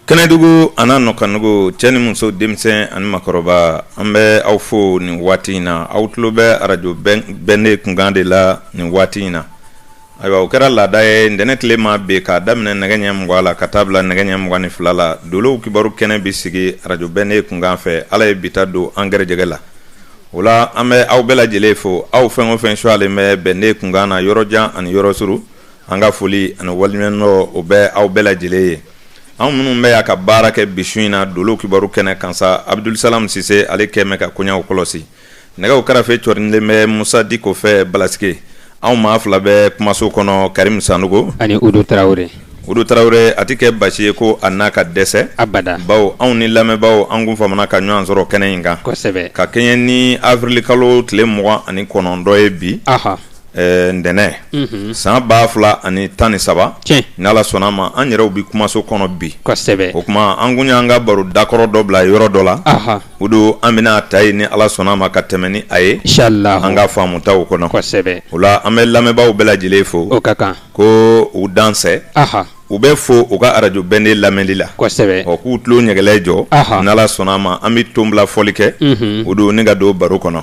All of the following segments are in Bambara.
kɛnɛdugu an'a nɔkanugu cɛ ni muso denmisɛn ani makɔrɔba an bɛ aw fo nin waati in na aw tulo bɛ arajo bɛnde kunkan de la nin waati in na ayiwa o kɛra laada ye ntɛnɛn tile ma bi k'a daminɛ nɛgɛ ɲɛ mugan la ka taa bila nɛgɛ ɲɛ mugan ni fila la dolow kibaru kɛnɛ b'i sigi arajo bɛnde kunkan fɛ ala ye bi ta don an gɛrɛjɛgɛ la o la an bɛ aw bɛɛ lajɛlen fo aw fɛn o fɛn suyalen bɛ bɛnde kunkan na yɔrɔ jan ani yɔrɔ surun An ka foli ani waliɲumandɔn o bɛ aw bɛɛ lajɛlen ye. Anw minnu bɛ yan ka baara kɛ bi su in na Dolow kibaru kɛnɛ kan sa, Abudulusalam Sise ale kɛn bɛ ka koɲɛw kɔlɔsi. Nɛgɛw karafe cɔrinilen bɛ Musa Diko fɛ Balasike. Anw maa fila bɛ kumaso kɔnɔ Karimu Sanogo ani Udo Tarawele. Udo Tarawele, a tɛ kɛ basi ye ko a na ka dɛsɛ abada, bawo anw ni lamɛnbaaw an kun famana ka ɲɔgɔn sɔrɔ kɛnɛ in kan, kosɛbɛ, ka kɛɲɛ ni avril kalo tile mugan ani kɔnɔntɔn ye bi, ɔhɔ. Ɛɛ ntɛnɛn unhun san 2013 tiɲɛ n'Ala sɔnn'a ma an yɛrɛw bi kumaso kɔnɔ bi kosɛbɛ o kuma an kun y'an ka baro dakɔrɔ dɔ bila yɔrɔ dɔ la anhan o don an bɛna a ta yen ni Ala sɔnn'a ma ka tɛmɛ ni a ye inchallahu an ka faamutaw kɔnɔ kosɛbɛ o la an bɛ lamɛnbaaw bɛɛ lajɛlen fo o ka kan ko u dansɛ anhan u bɛɛ fo u ka arajo bɛnde lamɛnli la kosɛbɛ ɔ k'u tulo ɲɛgɛlɛ jɔ n ala sɔnna a ma an bɛ ton bila fɔli kɛ o don ni ka don baro kɔnɔ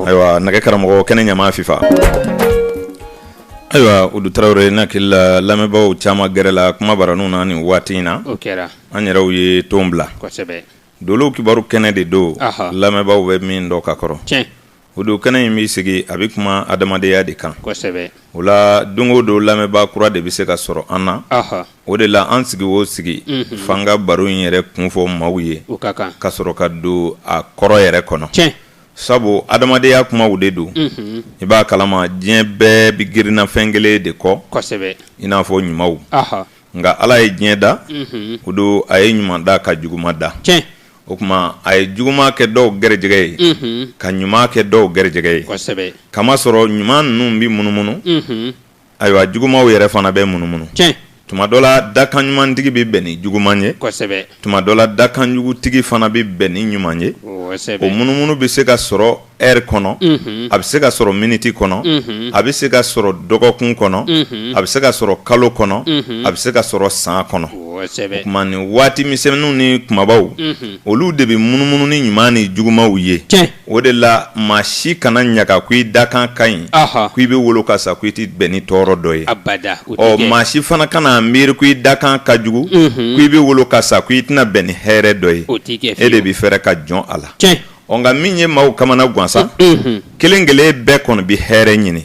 ayiwa nɛgɛ karamɔgɔ kɛnɛ ɲama fifa ayiwa udo tarawele n hakili la lamɛnbaaw caman gɛrɛla kuma baraniw na ni waati in na an yɛrɛw ye ton bila dolow kibaru kɛnɛ de don lamɛnbaaw bɛ min dɔn ka kɔrɔ O don kɛnɛ in b'i sigi a bɛ kuma adamadenya de kan o la don o don lamɛnbaa kura de bɛ se ka sɔrɔ an na o de la an sigi o sigi f'an ka baro in yɛrɛ kun fɔ maaw ye ka sɔrɔ ka don a kɔrɔ yɛrɛ kɔnɔ sabu adamadenya kumaw de don i b'a kalama diɲɛ bɛɛ bɛ girinna fɛn kelen de kɔ i n'a fɔ ɲumanw nka ala ye diɲɛ da o don a ye ɲuman da ka juguman da o kuma a ye juguma kɛ dɔw gɛrɛjɛgɛ ye ka ɲuman kɛ dɔw gɛrɛjɛgɛ ye k'a masɔrɔ ɲuman ninnu bɛ munumunu ayiwa jugumaw yɛrɛ fana bɛ munumunu tuma dɔ la dakan ɲumantigi bɛ bɛn ni juguman ye tuma dɔ la dakanjugutigi fana bɛ bɛn ni ɲuman ye o munumunu bɛ se ka sɔrɔ ɛri kɔnɔ a bɛ se ka sɔrɔ miniti kɔnɔ a bɛ se ka sɔrɔ dɔgɔkun kɔnɔ a bɛ se ka sɔrɔ kalo kɔnɔ a bɛ se ka sɔrɔ san kɔnɔ o kuma nin waati misɛnmanninw ni kumabaw olu de bɛ munumunu ni ɲuman ni jugumaw ye o de la maa si kana ɲaga ko i dakan ka ɲi k i bɛ wolo ka sa ko i tɛ bɛn ni tɔɔrɔ dɔ ye ɔ maa si fana kana miiri ko i dakan ka jugu k i bɛ wolo ka sa ko i tɛna bɛn ni hɛrɛ dɔ ye e de bɛ fɛɛrɛ ka jɔn a la Ɔ nka min ye maaw kamana gan sa kelen kelen bɛɛ kɔnɔ bɛ hɛrɛ ɲini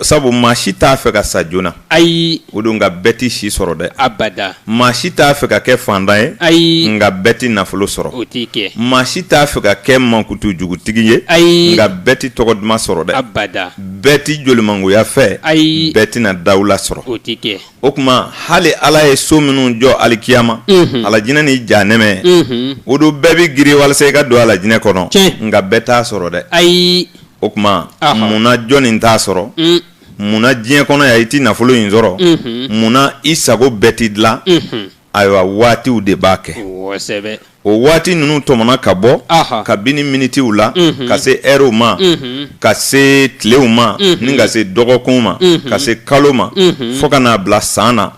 sabu maa si t'a fɛ ka sa joona ayi o don nka bɛɛ tɛ si sɔrɔ dɛ abada maa si t'a fɛ ka kɛ fantan ye ayi nka bɛɛ tɛ nafolo sɔrɔ o tɛ kɛ maa si t'a fɛ ka kɛ mankutu jugutigi ye ayi nka bɛɛ tɛ tɔgɔ duman sɔrɔ dɛ abada bɛɛ tɛ jolimangoya fɛ ayi bɛɛ tɛna dawula sɔrɔ o tɛ kɛ o kuma hali ala ye so minnu jɔ alikiyama mhm. alajinɛ ni janɛmɛ mhm. o don bɛɛ bɛ girin walasa i ka don alajinɛ kɔnɔ nka bɛɛ t'a sɔrɔ dɛ ayi o kuma munna jɔn nin t'a sɔrɔ mm. munna diɲɛ kɔnɔ yan i ti nafolo in sɔrɔ mhm. munna i sago bɛɛ ti dilan ayiwa waatiw de b'a kɛ o waati ninnu tɔmɔna ka bɔ kabini minitiw la ka se ɛrw ma ka se tilew ma ni ka se dɔgɔkun ma ka se kalo ma fo ka n'a bila san na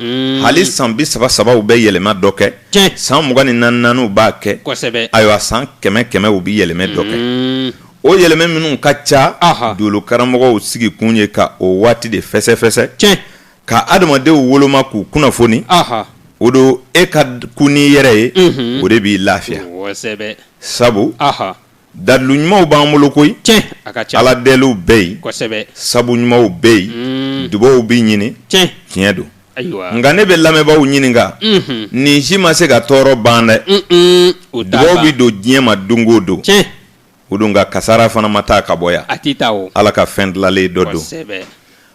hali san bi saba sabaw bɛ yɛlɛma dɔ kɛ san mugan ni naani naaniw b'a kɛ ayiwa san kɛmɛ kɛmɛ u bɛ yɛlɛmɛ dɔ kɛ o yɛlɛmɛ minnu ka ca dolo karamɔgɔw sigi kun ye ka o waati de fɛsɛfɛsɛ ka adamadenw woloma k'u kunnafoni o don e ka kun n'i yɛrɛ ye o de b'i lafiya sabu dalilu ɲumanw b'an bolo koyi ala deliw bɛ yen sabu ɲumanw bɛ yen dubaw bɛ ɲini tiɲɛ don nka ne bɛ lamɛnbaaw ɲininka nin si ma se ka tɔɔrɔ ban dɛ o dubaw bɛ don diɲɛ ma don o don o don nka kasara fana ma taa ka bɔ yan a tɛ taa o ala ka fɛn dilalen dɔ don kosɛbɛ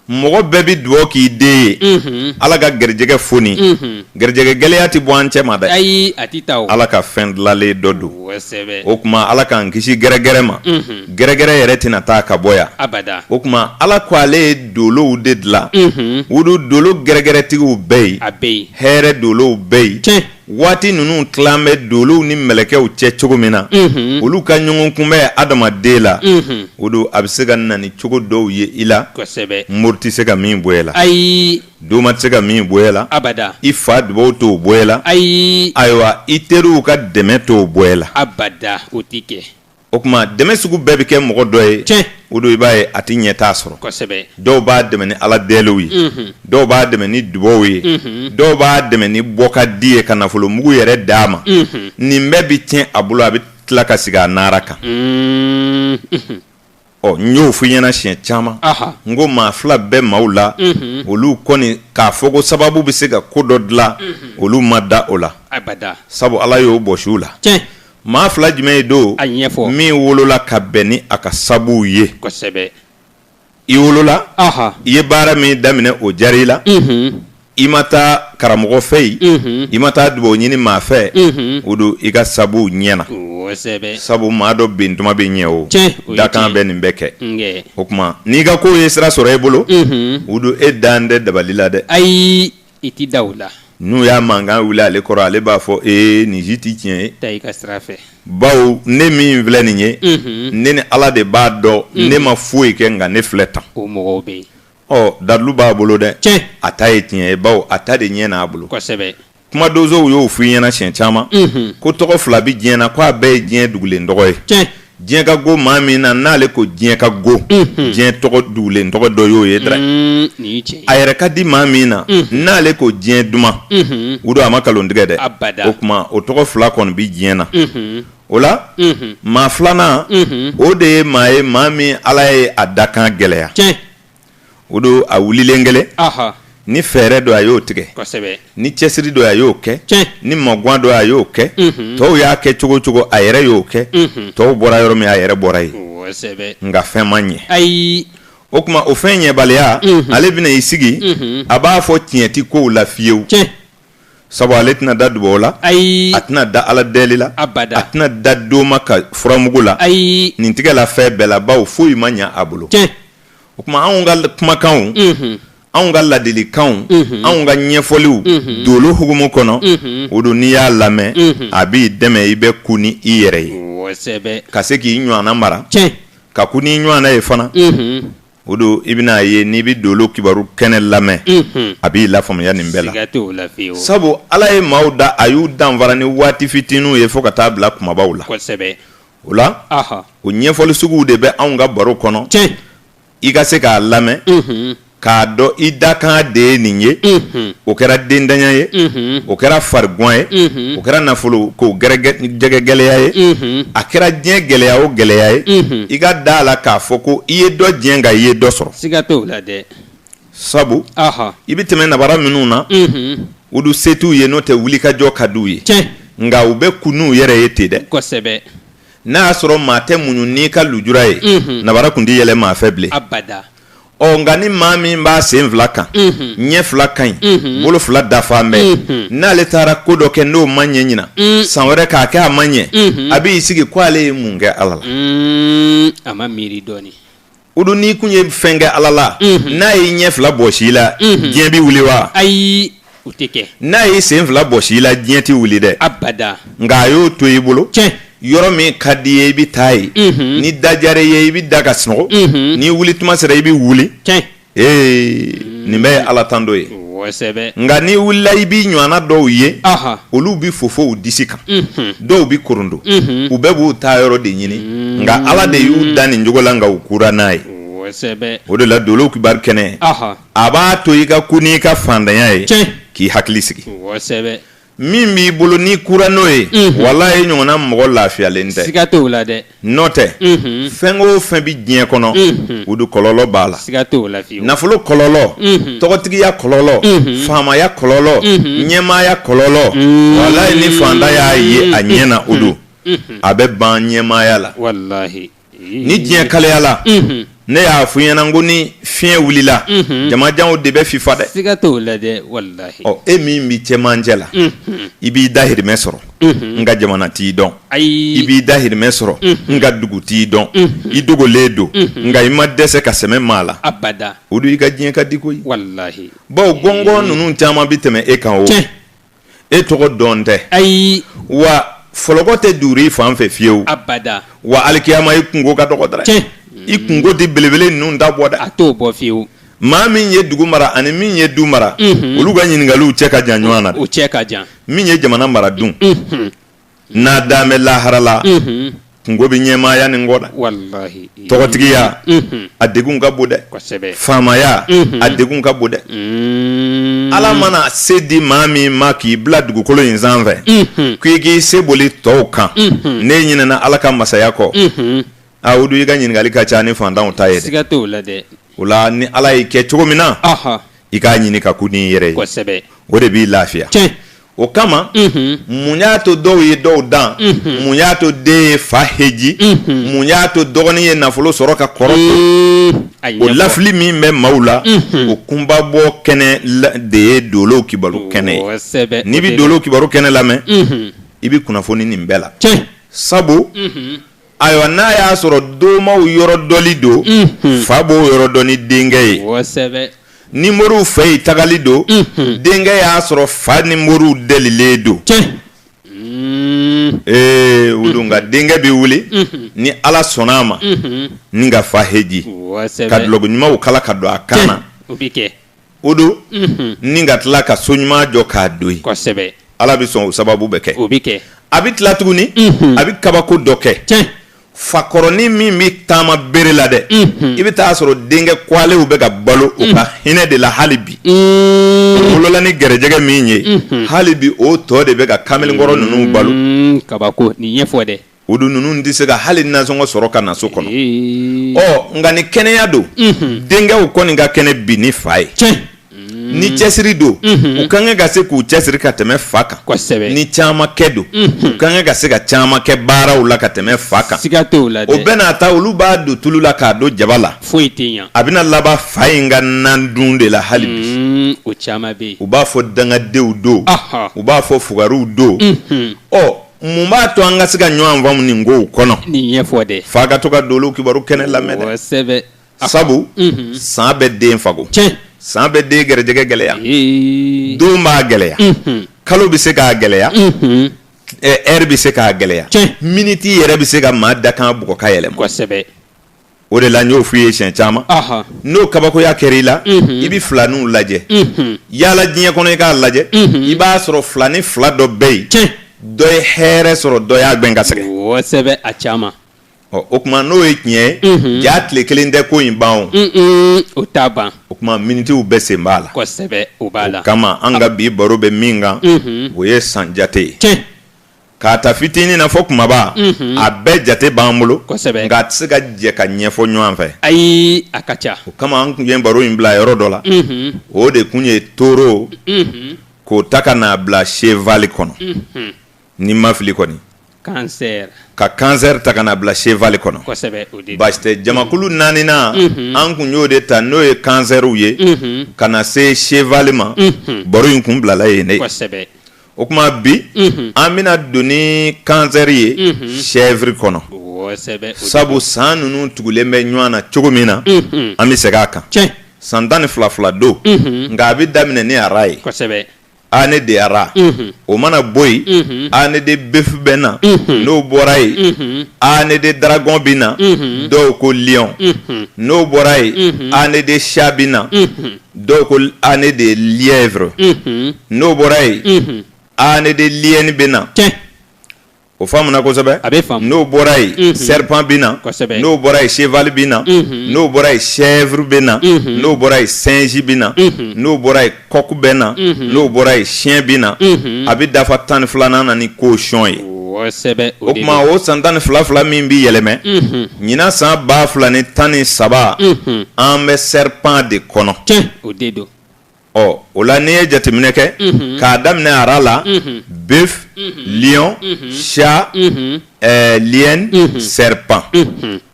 mɔgɔ bɛɛ bɛ dugawu k'i den ye mhm. ala ka garijɛgɛ foni mhm. garijɛgɛ gɛlɛya tɛ bɔ an cɛ ma dɛ ayi a tɛ taa o ala ka fɛn dilalen dɔ don kosɛbɛ o kuma ala k'an kisi gɛrɛgɛrɛ ma mhm. gɛrɛgɛrɛ yɛrɛ tɛna taa ka bɔ yan abada o kuma ala ko ale ye dolow de dilan o don dolo gɛrɛgɛrɛtigiw bɛ yen a bɛ yen hɛrɛ dolow bɛ yen tiɲɛ waati ninnu tilan bɛ dolow ni mɛlɛkɛw cɛ cogo min na olu ka ɲɔgɔn kunbɛn adamaden la o don a bɛ se ka na ni cogo dɔw ye i la mori tɛ se ka min bɔ e la ayi doma tɛ se ka min bɔ e la i fa dubaw t'o bɔ e la ayi ayiwa i teriw ka dɛmɛ t'o bɔ e la o kuma dɛmɛ sugu bɛɛ bɛ kɛ mɔgɔ dɔ ye tiɲɛ o don i b'a ye a tɛ ɲɛ t'a sɔrɔ kosɛbɛ dɔw b'a dɛmɛ ni ala dɛliw ye mhm. dɔw b'a dɛmɛ ni dubaw ye mhm. dɔw b'a dɛmɛ ni bɔ ka di ye ka nafolo mugu yɛrɛ d'a ma mhm. nin bɛɛ bɛ tiɲɛ a bolo a bɛ tila ka sigi a nara kan mm, ɔ n y'o fɔ i ɲɛna siɲɛ caman n ko maa fila bɛ maaw la olu kɔni k'a fɔ ko sababu bɛ se ka ko dɔ dilan olu ma da o la sabu ala y'o bɔsi u la maa fila jumɛn ye don ɲɛfɔ min wolola ka bɛn ni a ka sabuw ye i wolola i ye baara min daminɛ o diyara i la i ma taa karamɔgɔ fɛ yen i ma taa dubaw ɲini maa fɛ o don i ka sabuw ɲɛna sabu maa dɔ bɛn tuma bɛ ɲɛ o dakan bɛ nin bɛɛ kɛ o kuma n'i ka kow ye sira sɔrɔ e bolo o don e dalen tɛ dabali la dɛ ayi i tɛ da o la n'u y'a mankan wili ale kɔrɔ ale b'a fɔ e nin si tɛ tiɲɛ ye taa i ka sira fɛ bawo ne min filɛ nin ye ne ni ala de b'a dɔn ne ma foyi kɛ nka ne filɛ tan o mɔgɔw bɛ yen Ɔ dalilu b'a bolo dɛ tiɲɛ a ta ye tiɲɛ ye bawo a ta de ɲɛn'a bolo kosɛbɛ kuma donsow y'o fɔ i ɲɛna siɲɛ caman ko tɔgɔ fila bɛ diɲɛ na ko a bɛɛ ye diɲɛ dugulen tɔgɔ ye tiɲɛ diɲɛ ka go maa min na n'ale ko diɲɛ ka go diɲɛ tɔgɔ dugulen tɔgɔ dɔ y'o ye dɛ Mm, nin ye tiɲɛ ye a yɛrɛ ka di maa min na n'ale ko diɲɛ duman o don a ma nkalon tigɛ dɛ Abada. o kuma o tɔgɔ fila kɔni bɛ diɲɛ na o la maa filanan o de ye maa ye maa min ala ye a dakan gɛlɛya o don a wulilen kelen ni fɛɛrɛ don a y'o tigɛ ni cɛsiri don a y'o kɛ ni magan don a y'o kɛ tɔw y'a kɛ cogo cogo a yɛrɛ y'o kɛ tɔw bɔra yɔrɔ min a yɛrɛ bɔra yen nka fɛn ma ɲɛ ayi o kuma o fɛn ɲɛbaliya ale bɛna i sigi a b'a fɔ tiɲɛ tɛ kow la fiyewu sabu ale tɛna da dubaw la ayi a tɛna da ala deli la a tɛna da doma ka furamugu la ayi nin tigɛla fɛn bɛɛ la bawo foyi ma ɲɛ a bolo o kuma anw ka kumakanw anw ka ladilikanw anw ka ɲɛfɔliw dolo hukumu kɔnɔ o don n'i y'a lamɛn a b'i dɛmɛ i bɛ kun ni i yɛrɛ ye ka se k'i ɲɔgɔnna mara ka kun n'i ɲɔgɔnna ye fana O don i bɛna a ye n'i bɛ dolo kibaru kɛnɛ lamɛn a b'i lafaamuya nin bɛɛ la sabu ala ye maaw da a y'u danfara ni waati fitininw ye fo ka taa bila kumabaw la o la o ɲɛfɔli suguw de bɛ anw ka baro kɔnɔ cɛ i ka se k'a lamɛn k'a dɔn i dakan de ye nin ye o kɛra dentanya ye o kɛra farigan ye o kɛra nafolo ko jɛgɛgɛ gɛlɛya ye a kɛra diɲɛ gɛlɛya o gɛlɛya ye i ka da a la k'a fɔ ko i ye dɔ tiɲɛ nka i ye dɔ sɔrɔ siga t'a la dɛ sabu i bɛ tɛmɛ nabara minnu na olu se t'u ye n'o tɛ wulikajɔ ka d'u ye nka u bɛ kun n'u yɛrɛ ye ten dɛ kosɛbɛ n'a y'a sɔrɔ maa tɛ muɲu n'i ka lujura ye nabara kun tɛ yɛlɛ maa fɛ bilen ɔ nka ni maa min b'a sen fila kan ɲɛ fila ka ɲi bolo fila dafalen bɛ n'ale taara ko dɔ kɛ n'o ma ɲɛ ɲinan san wɛrɛ k'a kɛ a ma ɲɛ a b'i sigi ko ale ye mun kɛ ala la a ma miiri dɔɔnin o don n'i kun ye fɛn kɛ ala la n'a y'i ɲɛ fila bɔsi i la diɲɛ bɛ wuli wa ayi o tɛ kɛ n'a y'i sen fila bɔsi i la diɲɛ t'i wuli dɛ abada nka a y'o to i bolo tiɲɛ yɔrɔ min ka di i ye i bɛ taa yen mhm. ni da diyara i ye i bɛ da ka sunɔgɔ mhm. ni wuli tuma sera i bɛ wuli tiɲɛ ee nin bɛɛ ye ala tando ye nka n'i wulila i b'i ɲɔgɔnna dɔw ye olu bɛ fofo u disi kan mhm. dɔw bɛ korondo u bɛɛ b'u taa yɔrɔ de ɲini nka ala de y'u dan nin cogo la nka u kura n'a ye o de la dolow kibaru kɛnɛ a b'a to i ka kun n'i ka fantanya ye k'i hakili sigi min b'i bolo n'i kura n'o ye mhm. walahi i ɲɔgɔnna mɔgɔ lafiyalen tɛ siga t'o la dɛ n'o tɛ mhm. fɛn o fɛn bɛ diɲɛ kɔnɔ mhm. o de kɔlɔlɔ b'a la siga t'o la fiyewu nafolo kɔlɔlɔ tɔgɔtigiya kɔlɔlɔ faamaya kɔlɔlɔ ɲɛmaaya kɔlɔlɔ walahi ni fantan y'a ye a ɲɛ na o don a bɛ ban ɲɛmaaya la walahi ni diɲɛ kalayala ne y'a fɔ i ɲɛ na ko ni fiɲɛ wulila jamajanw de bɛ fifa dɛ e min bɛ cɛmancɛ la i b'i dahirimɛ sɔrɔ nka jamana t'i dɔn i b'i dahirimɛ sɔrɔ nka dugu t'i dɔn i dogolen don nka i ma dɛsɛ ka sɛmɛ maa la o don i ka diɲɛ ka di koyi bawo gɔngɔn ninnu caman bɛ tɛmɛ e kan o e tɔgɔ dɔn tɛ ayi wa fɔlɔkɔ tɛ duuru i fan fɛ fiyewu abada wa alikiyama i kunko ka dɔgɔ dɛrɛ cɛ i kunko tɛ belebele ninnu ta bɔ dɛ a t'o bɔ fiyewu maa min ye dugu mara ani min ye du mara olu ka ɲininkaliw cɛ ka jan ɲɔgɔn na o cɛ ka jan min ye jamana mara dun n'a dan bɛ lahara la kunko bɛ ɲɛmaaya nin kɔ dɛ tɔgɔtigiya a degun ka bon dɛ faamaya a degun ka bon dɛ ala mana se di maa min ma k'i bila dugukolo in sanfɛ k'i k'i se boli tɔw kan n'e ɲinɛna ala ka masaya kɔ a o don i ka ɲininkali ka ca ni fantanw ta ye dɛ o la ni ala y'i kɛ cogo min na i k'a ɲini ka kun n'i yɛrɛ ye o de b'i lafiya o kama mun y'a to dɔw ye dɔw dan mun y'a to den ye fa heji mun y'a to dɔgɔnin ye nafolo sɔrɔ ka kɔrɔ to o lafili min bɛ maaw la o kunbabɔ kɛnɛ de ye dolow kibaru kɛnɛ ye n'i bɛ dolow kibaru kɛnɛ lamɛn i bɛ kunnafoni nin bɛɛ la sabu ayiwa n'a y'a sɔrɔ domaw yɔrɔ dɔnni don fa b'o yɔrɔ dɔn ni denkɛ ye ni moriw fɛ yen tagali don denkɛ y'a sɔrɔ fa ni moriw delilen don ee o don nka denkɛ bɛ wuli ni ala sɔnna a ma ni ka fa heji ka duloki ɲumanw kala ka don a kan na o don ni ka tila ka so ɲuman jɔ k'a don yen kosɛbɛ ala bɛ sɔn o sababu bɛ kɛ o bɛ kɛ a bɛ tila tuguni a bɛ kabako dɔ kɛ fakɔrɔnin min bɛ taama bere la dɛ i bɛ taaa sɔrɔ denkɛ kwalew bɛ ka balo o ka hinɛ de la hali bi wolola ni gɛrɛjɛgɛ min ye hali bi o tɔ de bɛ ka kamalenkɔrɔ ninnu balo kabako nin ɲɛfɔ dɛ o dun ninnu tɛ se ka hali nasɔngɔ sɔrɔ ka na so kɔnɔ ɔ nka ni kɛnɛya don denkɛw kɔni ka kɛnɛ bi ni fa ye ni cɛsiri don u ka kan ka se k'u cɛsiri ka tɛmɛ fa kan ni caman kɛ don u ka kan ka se ka caman kɛ baaraw la ka tɛmɛ fa kan o bɛɛ n'a ta olu b'a don tulu la k'a don jaba la foyi a bɛna laban fa in ka nan dun de la hali bi o caman bɛ u b'a fɔ dangadenw don u b'a fɔ fugariw don ɔ mun b'a to an ka se ka ɲɔgɔn faamu nin kow kɔnɔ nin ɲɛfɔ dɛ f'a ka to ka dolo kibaru kɛnɛ lamɛn dɛ sɛbɛ sabu mhm. san bɛ den fago tiɲɛ san bɛ den gɛrɛjɛgɛ gɛlɛya don b'a gɛlɛya mhm. kalo bɛ se k'a gɛlɛya mhm. ɛri bɛ se k'a gɛlɛya miniti yɛrɛ bɛ se ka maa dakan bugɔ ka yɛlɛma kosɛbɛ o de la n y'o f'i ye siɲɛ caman Ahan. n'o kabakoya kɛra i la i bɛ filaninw lajɛ yaala diɲɛ kɔnɔ i k'a lajɛ i b'a sɔrɔ filanin fila dɔ bɛ yen Tiɲɛ. dɔ ye hɛrɛ sɔrɔ dɔ y'a gɛn ka sɛgɛn kosɛbɛ a caman Ɔ, o tuma n'o ye tiɲɛ ye jaa tile kelen tɛ ko in ban o Mm-mm, o t'a ban o tuma minitiw bɛɛ sen b'a la kosɛbɛ o b'a la o kama an ka bi baro bɛ min kan o ye san jate ye tiɲɛ K'a ta fitinin na fɔ kunbaba, unhun, a bɛɛ jate b'an bolo, kosɛbɛ, nka a tɛ se ka jɛ ka ɲɛfɔ ɲɔgɔn fɛ, ayi, a ka ca, o kama an kun ye baro in bila yɔrɔ dɔ la, unhun, o de kun ye taureau, unhun, k'o ta ka n'a bila cheval kɔnɔ, unhun, ni n ma fili kɔni, cancer, ka cancer ta ka n'a bila cheval kɔnɔ, kosɛbɛ, o de don, baasi tɛ, jamakulu naaninan, unhun, an kun y'o de ta n'o ye cancerw ye, unhun, ka na se cheval ma, unhun, baro in kun bilala yen de, kosɛbɛ. o tuma bi an bɛna don ni cancer ye chèvre kɔnɔ sabu san ninnu tugulen bɛ ɲɔgɔn na cogo min na an bɛ segin a kan san tan ni fila fila don nka a bɛ daminɛ ni ara ye ne de ara o mana bɔ yen année de bœuf bɛ na n'o bɔra yen année de dragon bɛ na dɔw ko lion n'o bɔra yen année de chat bɛ na Dɔw ko année de lièvre unhun n'o bɔra yen unhun année de l'hyène bɛ na tiɲɛ o faamuna kosɛbɛ a bɛ faamu n'o bɔra yen unhun serpent bɛ na kosɛbɛ n'o bɔra yen cheval bɛ na unhun n'o bɔra yen chèvre bɛ na unhun n'o bɔra yen singe bɛ na unhun n'o bɔra yen coq bɛ na unhun n'o bɔra yen chien bɛ na unhun a bɛ dafa tan ni filanan na ni cochon ye o tuma o san tan ni fila fila min bɛ yɛlɛma ɲinan san ba fila ni tan ni saba an bɛ serpent de kɔnɔ ɔ o la n'i ye jateminɛ kɛ k'a daminɛ ara la bœuf lion chat liyɛn serpent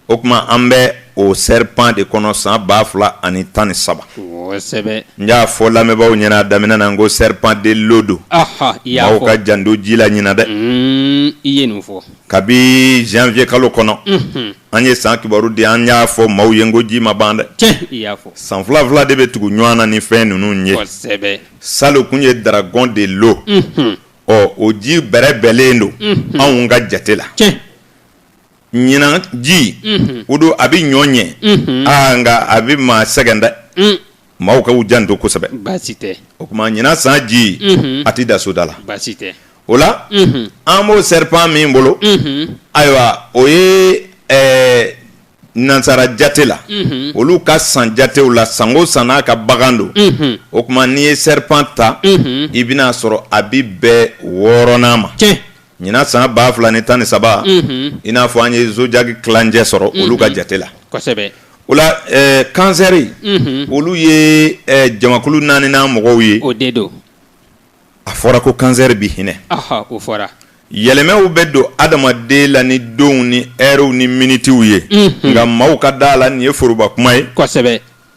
O tuma an bɛ o serpent de kɔnɔ san ba fila ani tan ni saba n y'a fɔ lamɛnbaaw ɲɛna daminɛ na n ko serpent de l'eau don maaw ka janto ji la ɲinan dɛ i ye nin fɔ kabi janvier kalo kɔnɔ an ye san kibaru di an y'a fɔ maaw ye n ko ji ma ban dɛ san fila fila de bɛ tugu ɲɔgɔn na ni fɛn ninnu ye salon tun ye dragon de l'eau ɔ o ji bɛrɛ bɛlen don anw ka jate la ɲinan ji o don a bɛ ɲɔ ɲɛ aa nka a bɛ maa sɛgɛn dɛ maaw ka u janto kosɛbɛ o tuma ɲinan san ji a tɛ da soda la o la an b'o serpent min bolo ayiwa o ye nansara jate la olu ka san jatew la sango san n'a ka bagan don o tuma n'i ye serpent ta i bɛn'a sɔrɔ a bɛ bɛn wɔɔrɔnan ma Ɲinan san ba fila ni tan ni saba i n'a fɔ an ye zodiaque tilancɛ sɔrɔ olu ka jate la o la kansɛri olu ye jamakulu naaninan mɔgɔw ye o de don a fɔra ko kansɛri bɛ hinɛ o fɔra yɛlɛmaw bɛ don adamaden la ni donw ni ɛriw ni minitiw ye nka maaw ka da la nin ye foroba kuma ye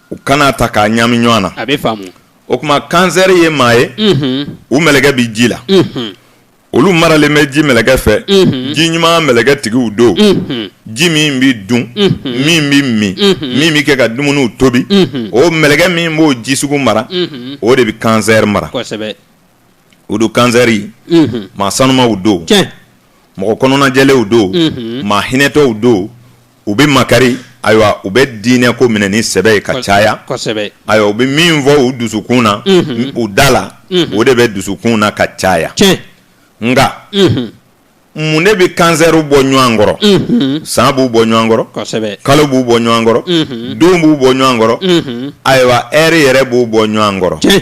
u kan'a ta k'a ɲami ɲɔgɔn na a bɛ o tuma kansɛri ye maa ye u mɛlɛkɛ bɛ ji la olu maralen bɛ ji mɛlɛkɛ fɛ ji ɲuman mɛlɛkɛ tigiw don ji min bɛ dun min bɛ min min bɛ kɛ ka dumuniw tobi o mɛlɛkɛ min b'o ji sugu mara o de bɛ kansɛri mara o don kansɛri maa sanumaw don mɔgɔ kɔnɔnajɛlenw don maa hinɛtɔw don u bɛ makari ayiwa u bɛ diinɛ ko minɛ ni sɛbɛ ye ka caya ayiwa u bɛ min fɔ u dusukun na u da la o de bɛ dusukun na ka caya nka mun de bɛ kansɛriw bɔ ɲɔgɔn kɔrɔ san b'u bɔ ɲɔgɔn kɔrɔ kalo b'u bɔ ɲɔgɔn kɔrɔ don b'u bɔ ɲɔgɔn kɔrɔ ayiwa ɛri yɛrɛ b'u bɔ ɲɔgɔn kɔrɔ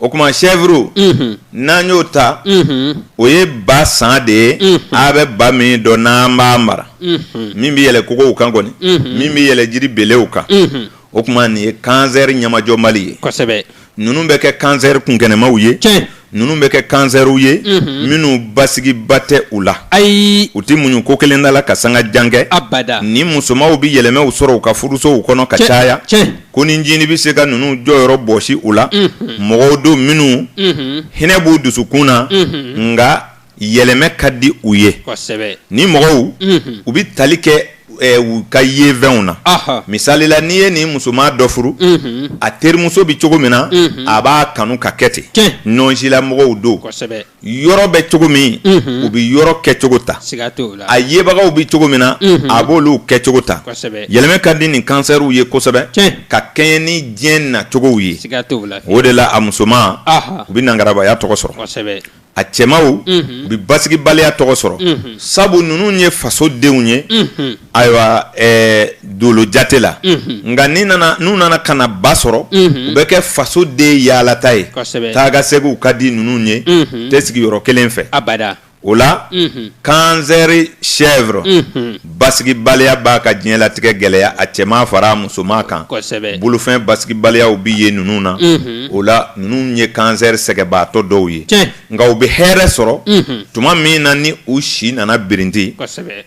o tuma chèvre n'an y'o ta o ye ba san de ye a bɛ ba min dɔn n'an b'a mara min bɛ yɛlɛ kogow kan kɔni min bɛ yɛlɛ jiri belew kan o tuma nin ye kansɛri ɲɛmajɔbali ye kosɛbɛ ninnu bɛ kɛ kansɛri kunkɛnɛmaw ye ninnu bɛ kɛ kansɛriw ye minnu basigi ba tɛ u la ayi u tɛ muɲu ko kelen da la ka sanga jan kɛ abada ni musomanw bɛ yɛlɛmaw sɔrɔ u ka furusow kɔnɔ ka caya konin ncinin bɛ se ka ninnu jɔyɔrɔ bɔsi u la mɔgɔw don minnu hinɛ b'u dusukun na nka yɛlɛmɛ ka di u ye nin mɔgɔw u bɛ tali kɛ u ka yefɛnw na misalila n'i ye nin musoman dɔ furu a terimuso bɛ cogo min na a b'a kanu ka kɛ ten nɔnsila mɔgɔw don yɔrɔ bɛ cogo min u bɛ yɔrɔ kɛcogo ta a yebagaw bɛ cogo min na a b'olu kɛcogo ta yɛlɛmɛ ka di nin kansɛriw ye kosɛbɛ ka kɛɲɛ ni diɲɛ nacogow ye o de la a musomanw bɛ nangarabaya tɔgɔ sɔrɔ a cɛmanw bɛ basigibaliya tɔgɔ sɔrɔ sabu ninnu ye fasodenw ye ayiwa dolo jate la nka n'u nana ka na ba sɔrɔ u bɛ kɛ fasoden yaalata ye taakaseginw ka di ninnu ye tɛ sigi yɔrɔ kelen fɛ o la kansɛri chèvre basigibaliya b'a ka diɲɛlatigɛ gɛlɛya a cɛman fara a musoman kan bolofɛn basigibaliyaw bɛ ye ninnu na o la ninnu ye kansɛri sɛgɛnbaatɔ dɔw ye nka u bɛ hɛrɛ sɔrɔ tuma min na ni u si nana birinti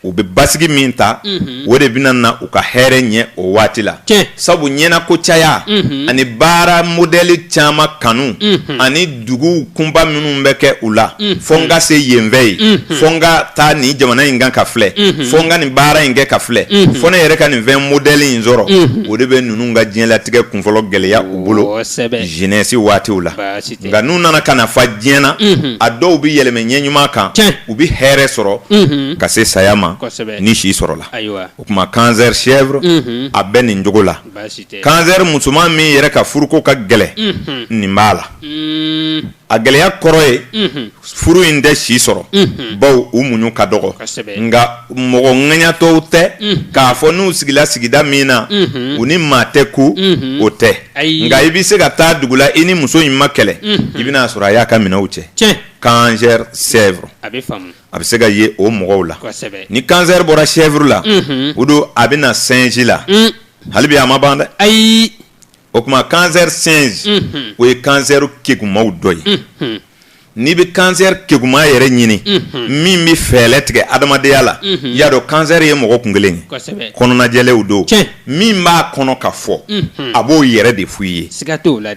u bɛ basigi min ta o de bɛna na u ka hɛrɛ ɲɛ o waati la sabu ɲɛnako caya ani baara modɛli caman kanu ani dugu kunba minnu bɛ kɛ u la fo n ka se yenfɛ yen fo n ka taa nin jamana in kan ka filɛ fo n ka nin baara in kɛ ka filɛ fo ne yɛrɛ ka nin fɛn modɛli in sɔrɔ o de bɛ ninnu ka diɲɛlatigɛ kunfɔlɔ gɛlɛya u bolo jeunesse waatiw la nka n'u nana ka na fa diɲɛ na a dɔw bɛ yɛlɛmɛ ɲɛ ɲuman kan u bɛ hɛrɛ sɔrɔ ka se saya ma ni si sɔrɔla o tuma kansɛri chèvre a bɛ nin cogo la kansɛri musoman min yɛrɛ ka furuko ka gɛlɛn nin b'a la a gɛlɛya kɔrɔ ye furu in tɛ si sɔrɔ baw u muɲu ka dɔgɔ nka mɔgɔ ŋaɲatɔw tɛ k'a fɔ n'u sigila sigida min na u ni maa tɛ kun o tɛ nka i bɛ se ka taa dugu la i ni muso in ma kɛlɛ i bɛn'a sɔrɔ a y'a ka minɛnw cɛ kansɛri chèvre a bɛ se ka ye o mɔgɔw la ni kansɛri bɔra chèvre la o don a bɛ na singe la hali bi a ma ban dɛ ayi o tuma kansɛri singe o ye kansɛri kegumanw dɔ ye n'i bɛ kansɛri keguman yɛrɛ ɲini min bɛ fɛɛlɛ tigɛ adamadenya la y'a dɔn kansɛri ye mɔgɔ kun kelen ye kɔnɔnajɛlenw don min b'a kɔnɔ ka fɔ a b'o yɛrɛ de f'i ye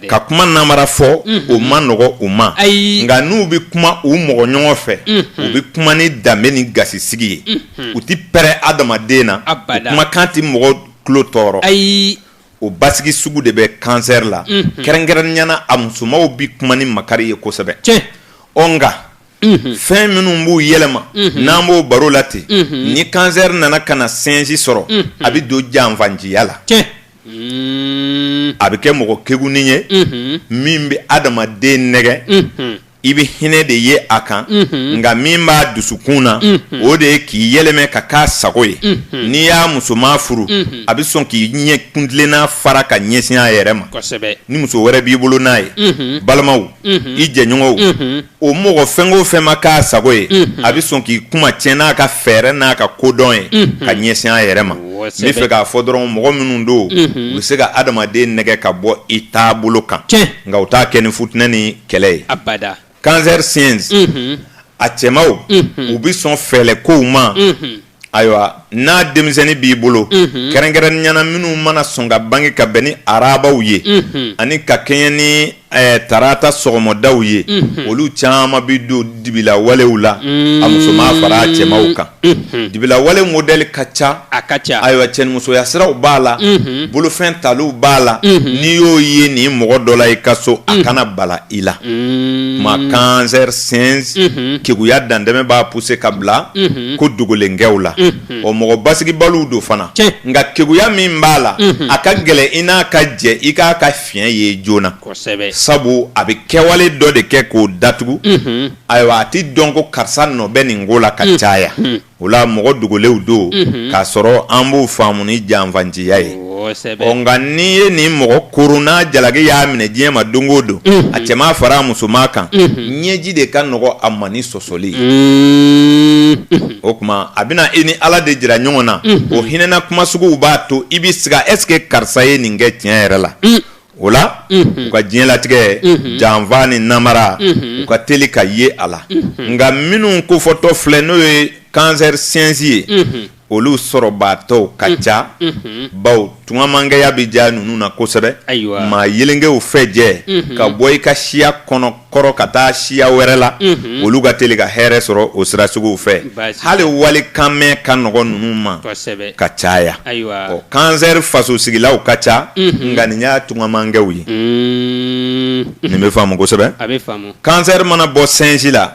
ka kuma namara fɔ o man nɔgɔ u ma ayi nka n'u bɛ kuma u mɔgɔ ɲɔgɔn fɛ u bɛ kuma ni danbe ni gasisigi ye u tɛ pɛrɛn adamaden na u kumakan tɛ mɔgɔ tulo tɔɔrɔ ayi o basigi sugu de bɛ kansɛri la kɛrɛnkɛrɛnnenyana a musomanw bɛ kuma ni makari ye kosɛbɛ ɔ nka fɛn minnu b'u yɛlɛma n'an b'o baro la ten ni kansɛri nana ka na singe sɔrɔ a bɛ don janfanciya la a bɛ kɛ mɔgɔ kegunin ye min bɛ adamaden nɛgɛ i bɛ hinɛ de ye a kan nka min b'a dusukun na o de ye k'i yɛlɛmɛ ka k'a sago ye n'i y'a musoman furu a bɛ sɔn k'i ɲɛ kuntilenna fara ka ɲɛsin a yɛrɛ ma ni muso wɛrɛ b'i bolo n'a ye balimaw i jɛɲɔgɔnw o mɔgɔ fɛn o fɛn ma k'a sago ye a bɛ sɔn k'i kuma tiɲɛ n'a ka fɛɛrɛ n'a ka kodɔn ye ka ɲɛsin a yɛrɛ ma n bɛ fɛ k'a fɔ dɔrɔn mɔgɔ minnu don u bɛ se ka adamaden nɛgɛ ka bɔ i taabolo kan nka u t'a kɛ ni fut kɛlɛ ye abada cancer singe mhm. a cɛmaw mhm. u bɛ sɔn fɛɛlɛ kow ma mhm. ayiwa n'a denmisɛnnin b'i bolo kɛrɛnkɛrɛnnenyana minnu mana sɔn ka bange ka bɛn ni arabaw ye ani ka kɛɲɛ ni eh, tarata sɔgɔmadaw ye olu caman bɛ don dibila walew la a musoman fara a cɛmaw kan Unhun dibila wale modɛli ka ca a ka ca ayiwa cɛnimusoya siraw b'a la bolofɛn taliw b'a la n'i y'o ye nin mɔgɔ dɔ la i ka so a kana bala i la ma kansɛri singe keguya dantɛmɛ b'a pousser ka bila ko dogolenkɛw la o mɔgɔ basigibaliw don fana nka keguya min b'a la a ka gɛlɛn i n'a ka jɛ i k'a ka fiɲɛ ye joona sabu a bɛ kɛwale dɔ de kɛ k'o datugu ayiwa a tɛ dɔn ko karisa nɔ bɛ nin ko la ka mm. caya mm. o la mɔgɔ dogolenw don mm-hmm. k'a sɔrɔ an b'o faamu ni janfanciya ye ɔ nka n'i ye nin mɔgɔ koron n'a jalaki y'a minɛ diɲɛ ma don o don mm-hmm. a cɛman fara a musoman kan mm-hmm. ɲɛji de ka nɔgɔ a ma ni sɔsɔli o tuma a bɛna i ni ala de jira ɲɔgɔn na o hinɛna kuma suguw b'a to i bɛ siga est-ce que karisa ye nin kɛ tiɲɛ yɛrɛ la o la u ka diɲɛlatigɛ janfa ni namara u ka teli ka ye a la nka minnu kofɔtɔ filɛ n'o ye kansɛri singe ye olu sɔrɔbaatɔw ka ca baw tungamankɛya bɛ diya ninnu na kosɛbɛ ayiwa maa yelenkɛw fɛ jɛ ka bɔ i ka siya kɔnɔ kɔrɔ ka taa siya wɛrɛ la mhm. olu ka teli ka hɛrɛ sɔrɔ o sira suguw fɛ hali walikanmɛn ka nɔgɔ ninnu ma ka caya ɔ kansɛri fasosigilaw ka ca mhm. nka nin y'a tungamankɛw ye mhm. nin bɛ faamu kosɛbɛ kansɛri mana bɔ singe la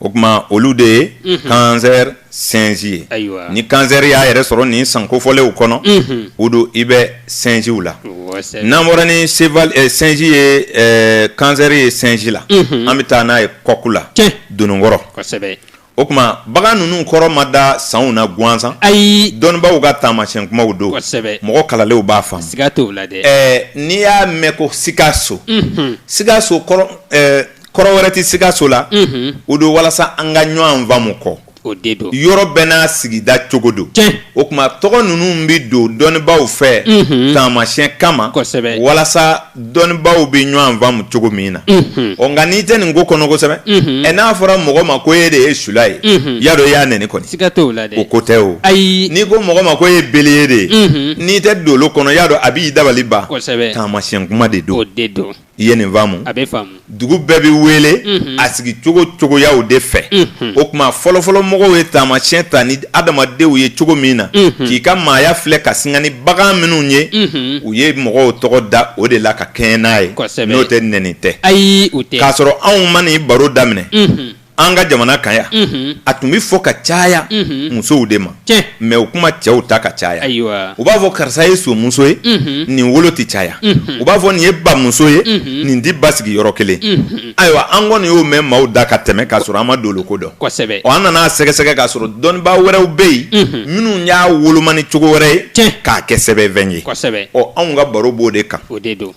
o kuma olu de ye kansɛri sinsi ye ni kansɛri y'a yɛrɛ sɔrɔ nin san kofɔlenw kɔnɔ o don i bɛ sinsiw la n'an bɔra ni sinsi ye kansɛri ye sinsi la an bɛ taa n'a ye kɔku la dononkɔrɔ o kuma bagan ninnu kɔrɔ ma da sanw na gansan ayi dɔnnibaw ka taamasiyɛn kumaw don mɔgɔ kalanlenw b'a faamu siga t'a la dɛ n'i y'a mɛn ko sikaso sikaso kɔrɔ wɛrɛ tɛ sikaso la o don walasa an ka ɲɔgɔn faamumu kɔ o don yɔrɔ bɛɛ n'a sigida cogo don o kuma tɔgɔ ninnu bɛ don dɔnnibaw fɛ taamasiyɛn kama kosɛbɛ walasa dɔnnibaw bɛ ɲɔgɔn faamumu cogo min na ɔ nka n'i tɛ nin ko kɔnɔ kosɛbɛ ɛ n'a fɔra mɔgɔ ma ko e de ye sula ye i y'a dɔn i y'a nɛni kɔni siga t'o la o ko tɛ o ayi n'i ko mɔgɔ ma ko e ye beliye de ye n'i tɛ dolo kɔnɔ i y'a dɔn a b'i dabali ban kosɛbɛ taamasiyɛn kuma de don o de don i ye nin faamu a bɛ faamu dugu bɛɛ bɛ wele a sigi cogo cogoyaw de fɛ o kuma fɔlɔfɔlɔ mɔgɔw ye taamasiyɛn ta ni adamadenw ye cogo min na k'i ka maaya filɛ k'a sanga ni bagan minnu ye u ye mɔgɔw tɔgɔ da o de la ka kɛɲɛ n'a ye n'o tɛ nɛni tɛ ayi k'a sɔrɔ anw ma nin baro daminɛ an ka jamana kan yan a tun bɛ fɔ ka caya musow de ma mɛ o kuma cɛw ta ka caya u b'a fɔ karisa ye somuso ye nin wolo tɛ caya u b'a fɔ nin ye bamuso ye nin tɛ basigi yɔrɔ kelen ayiwa an kɔni y'o mɛn maaw da ka tɛmɛ k'a sɔrɔ an ma dolo ko dɔn kosɛbɛ an nana sɛgɛsɛgɛ k'a sɔrɔ dɔnnibaa wɛrɛw bɛ yen minnu y'a woloma ni cogo wɛrɛ ye k'a kɛ sɛbɛnfɛn ye kosɛbɛ ɔ anw ka baro b'o de kan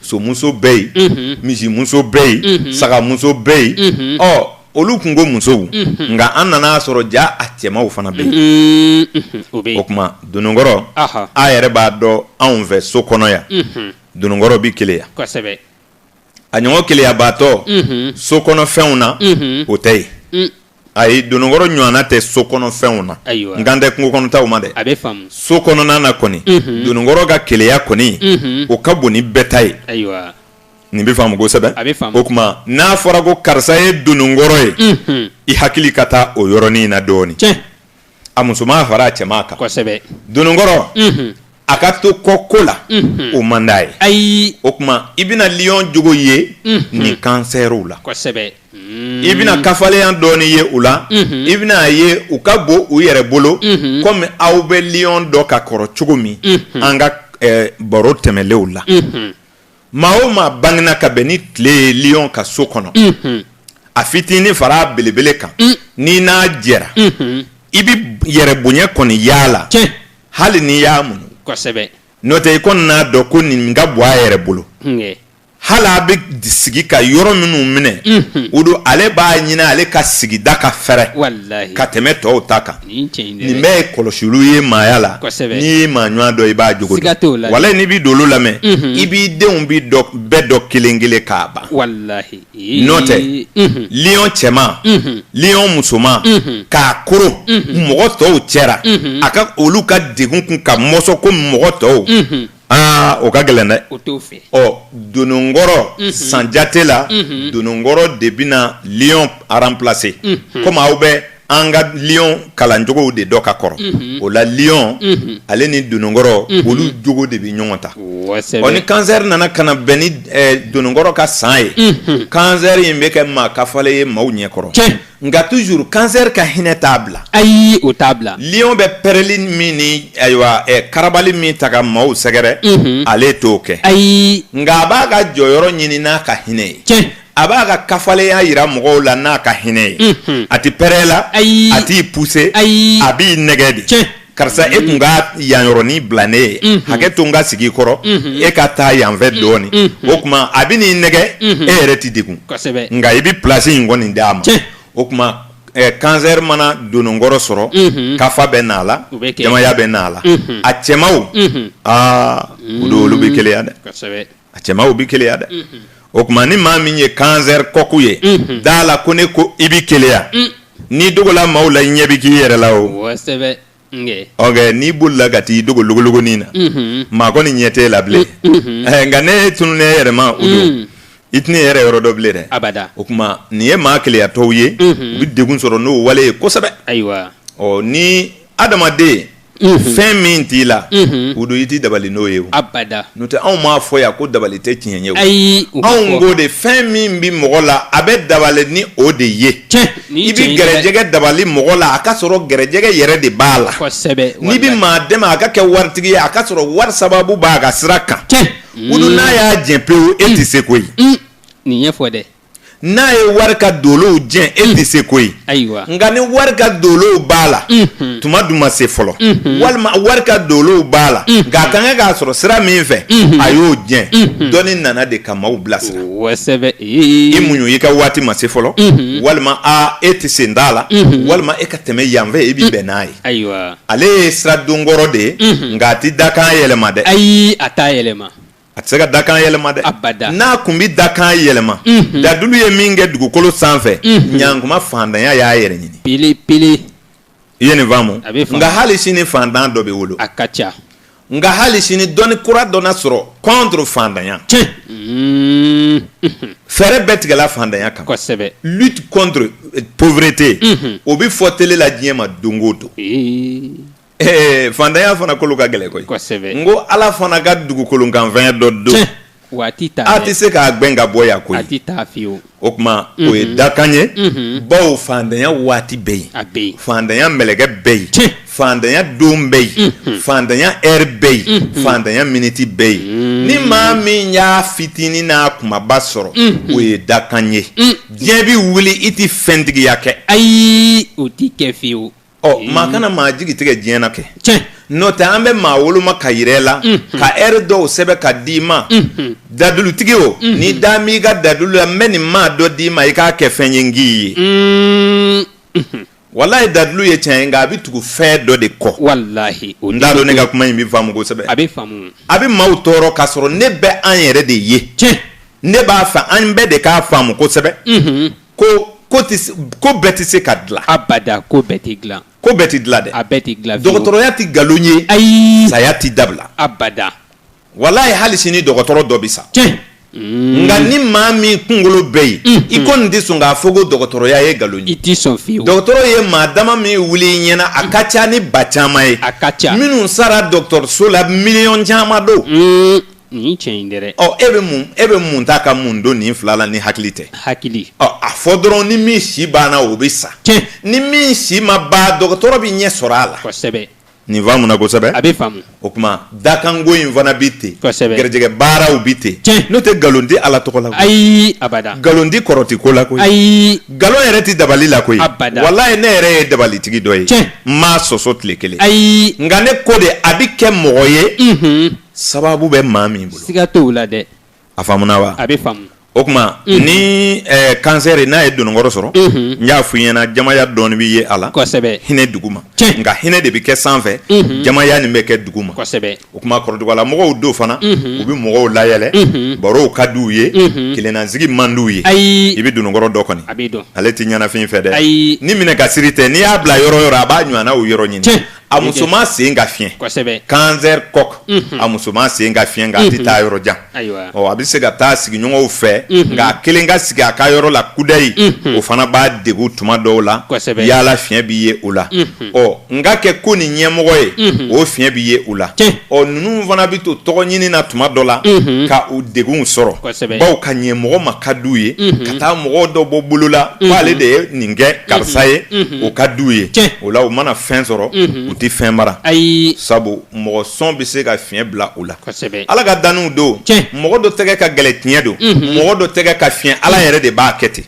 somuso bɛ yen misimuso bɛ yen sagamuso bɛ yen ɔ olu kun ko musow nka an nana a sɔrɔ ja a cɛmanw fana bɛ yen o o kuma dononkɔrɔ a yɛrɛ b'a dɔn anw fɛ so kɔnɔ yan dononkɔrɔ bɛ keleya a ɲɔgɔn keleyabaatɔ so kɔnɔfɛnw na o tɛ yen ayi dononkɔrɔ ɲɔgɔnna tɛ so kɔnɔfɛnw na n kan tɛ kungo kɔnɔtaw ma dɛ so kɔnɔna na kɔni dononkɔrɔ ka keleya kɔni o ka bon ni bɛɛ ta ye nin bɛ faamu kosɛbɛ o kuma n'a fɔra ko karisa ye dononkɔrɔ ye i hakili ka taa o yɔrɔnin na dɔɔnin a musoman fara a cɛman kan kosɛbɛ dononkɔrɔ unhun a ka to kɔ ko la unhun o man d'a ye ayi o kuma i bɛna liyɔn jogo ye unhun nin kansɛriw la kosɛbɛ Mm. i bɛna kafalenya dɔɔni ye u la Mhm. i bɛna a ye u ka bon u yɛrɛ bolo Mhm. komi aw bɛ liyɔn dɔn ka kɔrɔ cogo min Mhm. an ka eh, baro tɛmɛnlenw la unhun Maa o maa bangena ka bɛn ni tile ye lion ka so kɔnɔ, unhun, a fitinin fara a belebele kan, un, n'i n'a jɛra, unhun, i bɛ yɛrɛ bonya kɔni y'a la, tiɲɛ, hali n'i y'a muɲu, kosɛbɛ, n'o tɛ i kɔni n'a dɔn ko nin ka bon a yɛrɛ bolo, hunkɛ, hali a bɛ sigi ka yɔrɔ minnu minɛ, unhun, o don ale b'a ɲini ale ka sigida ka fɛrɛ, walahi, ka tɛmɛ tɔw ta kan. nin bɛɛ ye kɔlɔsiliw ye maaya la n'i ye maa ɲɔgɔn dɔn i b'a jogo dɔn walahi n'i bɛ dolow lamɛn i b'i denw bɛ bɛɛ dɔn kelen kelen k'a ban n'o tɛ lion cɛman lion musoman k'a koron mɔgɔ tɔw cɛla a ka olu ka degun kun ka mɔsɔn ko mɔgɔ tɔw aa o ka gɛlɛn dɛ o t'o fɛ ɔ dononkɔrɔ mhm. sanjate la mhm. dononkɔrɔ de bɛna lion remplacer mhm. komi aw bɛ an ka lion kalancogow de dɔn ka kɔrɔ o la lion ale ni dononkɔrɔ olu jogo de bɛ ɲɔgɔn ta ɔ ni kansɛri nana ka na bɛn ni eh, dononkɔrɔ ka san ye kansɛri in bɛ kɛ maa kafalen ye maaw ɲɛkɔrɔ nka toujours cancer ka hinɛ t'a bila ayi o t'a bila lion bɛ pɛrɛli min ni ayiwa eh, karabali min ta ka maaw sɛgɛrɛ mhm. ale t'o kɛ ayi nka a b'a ka jɔyɔrɔ ɲini n'a ka hinɛ ye tiɲɛ a b'a ka kafalenya yira mɔgɔw la n'a ka hinɛ ye mhm. a tɛ pɛrɛ la ayi a t'i pousser ayi a b'i nɛgɛ de tiɲɛ karisa e tun ka yanyɔrɔnin bila ne ye mhm. hakɛ to n ka sigi kɔrɔ mhm. e ka taa yanfɛ mhm. dɔɔnin o kuma a bɛ n'i nɛgɛ e yɛrɛ tɛ degun nka i bɛ pilasi in kɔni d'a ma o kuma kansɛri mana dononkɔrɔ sɔrɔ kafa bɛ n'a la jamaya bɛ n'a la a cɛmaw aa o don olu bɛ keleya dɛ a cɛmaw bɛ keleya dɛ o kuma ni maa min ye kansɛri coq ye d'a la ko ne ko i bɛ keleya n'i dogola maaw la i ɲɛ bɛ k'i yɛrɛ la o n'i bolila ka taa i dogo logologonin na maa kɔni ɲɛ t'e la bilen nka n'e tununna e yɛrɛ ma o don i tɛna i yɛrɛ yɔrɔ dɔn bilen dɛ a o kuma nin ye maa keleyatɔw ye u bɛ degun sɔrɔ n'o wale ye kosɛbɛ ayiwa ni adamaden fɛn min t'i la o don i tɛ dabali n'o ye n'o tɛ anw m'a fɔ yan ko dabali tɛ tiɲɛ ye ayi anw ko de fɛn min bɛ mɔgɔ la a bɛ dabali ni o de ye i bɛ gɛrɛjɛgɛ dabali mɔgɔ la a ka sɔrɔ gɛrɛjɛgɛ yɛrɛ de b'a la n'i bɛ maa dɛmɛ a ka kɛ waritigi ye a ka sɔrɔ wari sababu b'a ka sira kan o don n'a y'a jɛn pewu e tɛ se koyi nin ɲɛfɔ dɛ n'a ye wari ka dolow jɛn e tɛ se koyi nka ni wari ka dolow b'a la tuma dun ma se fɔlɔ walima wari ka dolow b'a la nka a ka kan k'a sɔrɔ sira min fɛ a y'o jɛn dɔnni nana de ka maaw bilasira i muɲu i ka waati ma se fɔlɔ walima a e tɛ sen t'a la walima e ka tɛmɛ yanfɛ i bɛ bɛn n'a ye ale ye sira donkɔrɔ de ye nka a tɛ dakan yɛlɛma dɛ ayi a t'a yɛlɛma a tɛ se ka dakan yɛlɛma dɛ abada n'a kun bɛ dakan yɛlɛma mhm. dadulu ye min kɛ dugukolo sanfɛ mhm. ɲankuma fantanya y'a yɛrɛ ɲini pele pele i ye nin faamu nka hali sini fantan dɔ bɛ wolo a ka ca nka hali sini dɔnni kura dɔ na sɔrɔ contre fantanya tiɲɛ mhm. fɛɛrɛ bɛɛ tigɛla fantanya kan kosɛbɛ lutte contre euh, pauvreté o bɛ fɔ tele la diɲɛ ma don o don Ee fantanya fana kolo ka gɛlɛn koyi kosɛbɛ n ko ala fana ka dugukolokanfɛn dɔ don Tiɲɛ. waati ta a tɛ se k'a gbɛn ka bɔ yan koyi a tɛ taa fiyewu o tuma o ye dakan ye bawo fantanya waati bɛ yen a bɛ yen fantanya mɛlɛkɛ bɛ yen Tiɲɛ. fantanya don bɛ yen fantanya ɛri bɛ yen fantanya miniti bɛ yen ni maa min y'a fitinin n'a kumaba sɔrɔ o ye dakan ye diɲɛ bɛ wuli i tɛ fɛntigiya kɛ ayi o t'i kɛ fiyewu ɔ maa kana maa jigi tigɛ diɲɛ na kɛ tiɲɛ n'o tɛ an bɛ maa woloma ka yɛrɛ la ka ɛri dɔw sɛbɛn ka d'i ma dadulutigi o n'i da m'i ka dadulu la n bɛ nin maa dɔ d'i ma i k'a kɛ fɛn ye n k'i ye walayi dadulu ye tiɲɛ ye nka a bɛ tugu fɛn dɔ de kɔ walahi o n t'a dɔn ne ka kuma in bɛ faamu kosɛbɛ a bɛ faamu a bɛ maaw tɔɔrɔ k'a sɔrɔ ne bɛ an yɛrɛ de ye tiɲɛ ne b'a fɛ an bɛɛ de k'a faamu kosɛbɛ ko ko ko bɛɛ tɛ se ka dilan abada ko bɛɛ tɛ dilan ko bɛɛ tɛ dilan dɛ a bɛɛ tɛ dilan dɔgɔtɔrɔya tɛ nkalon ye ayi saya tɛ dabila abada walayi hali sini dɔgɔtɔrɔ dɔ bɛ sa tiɲɛ mm. nka ni maa min kunkolo bɛ yen mm. i kɔni tɛ sɔn k'a fɔ ko dɔgɔtɔrɔya ye nkalon ye i tɛ sɔn fiyewu dɔgɔtɔrɔ ye maa dama min wuli i ɲɛna a ka ca ni ba caman ye a ka ca minnu sara dɔgɔtɔrɔso la miliyɔn caman don mm. nin tiɲɛ in dɛ ɔ e bɛ mun e bɛ mun ta ka mun don nin fila la ni hakili tɛ hakili ɔ a fɔ dɔrɔn ni min si banna o bɛ sa tiɲɛ ni min si ma ban dɔgɔtɔrɔ bɛ ɲɛ sɔrɔ a la kosɛbɛ nin faamuna kosɛbɛ a bɛ faamu o tuma dakanko in fana bɛ ten kosɛbɛ garijɛgɛ baaraw bɛ ten tiɲɛ n'o tɛ nkalon tɛ ala tɔgɔ la koyi ayi abada nkalon tɛ kɔrɔti ko la koyi ayi nkalon yɛrɛ tɛ dabali la koyi Abada. walayi ne yɛrɛ ye dabalitigi dɔ ye Tiɲɛ. n m'a sɔsɔ tile kelen ayi nka ne ko de a bɛ kɛ mɔgɔ ye unhun sababu bɛ maa min bolo siga t'o la dɛ a faamuna wa a bɛ faamu o tuma ni kansɛri n'a ye dononkɔrɔ sɔrɔ n y'a fɔ i ɲɛna jamaya dɔɔni bɛ ye a la kosɛbɛ hinɛ duguma nka hinɛ de bɛ kɛ sanfɛ jamaya nin bɛ kɛ duguma kosɛbɛ o tuma kɔrɔdugala mɔgɔw don fana u bɛ mɔgɔw layɛlɛ barow ka di u ye kelennasigi man di u ye ayi i bɛ dononkɔrɔ dɔn kɔni a bɛ dɔn ale tɛ ɲɛnafin fɛ dɛ ayi ni minɛ ka siri tɛ n'i y'a bila yɔrɔ o yɔrɔ a b'a ɲɔgɔnnaw yɔrɔ ɲini a musoman sen ka fiɲɛ kosɛbɛ cancer coq a musoman sen ka fiɲɛ nka a tɛ taa yɔrɔ jan ayiwa ɔ a bɛ se ka taa sigiɲɔgɔnw fɛ nka a kelen ka sigi a ka yɔrɔ la kudayi o fana b'a degun tuma dɔw la Kosɛbɛ. yaala fiɲɛ bɛ ye o la ɔ n ka kɛ ko nin ɲɛmɔgɔ ye o fiɲɛ bɛ ye o la Tiɲɛ. ɔ ninnu fana bɛ to tɔgɔ ɲini na tuma dɔ la ka u degunw sɔrɔ bawo ka ɲɛ mɔgɔ ma ka d'u ye ka taa mɔgɔ dɔ bɔ bɔlɔ la k'ale de ye nin kɛ karisa ye o ka d'u ye o la u mana fɛn sɔrɔ u tɛ fɛn mara ayi sabu mɔgɔ sɔn bɛ se ka fiɲɛ bila u la ala ka danniw don mɔgɔ dɔ tɛgɛ ka gɛlɛn tiɲɛ don mɔgɔ dɔ tɛgɛ ka fiɲɛ ala yɛrɛ de b'a kɛ ten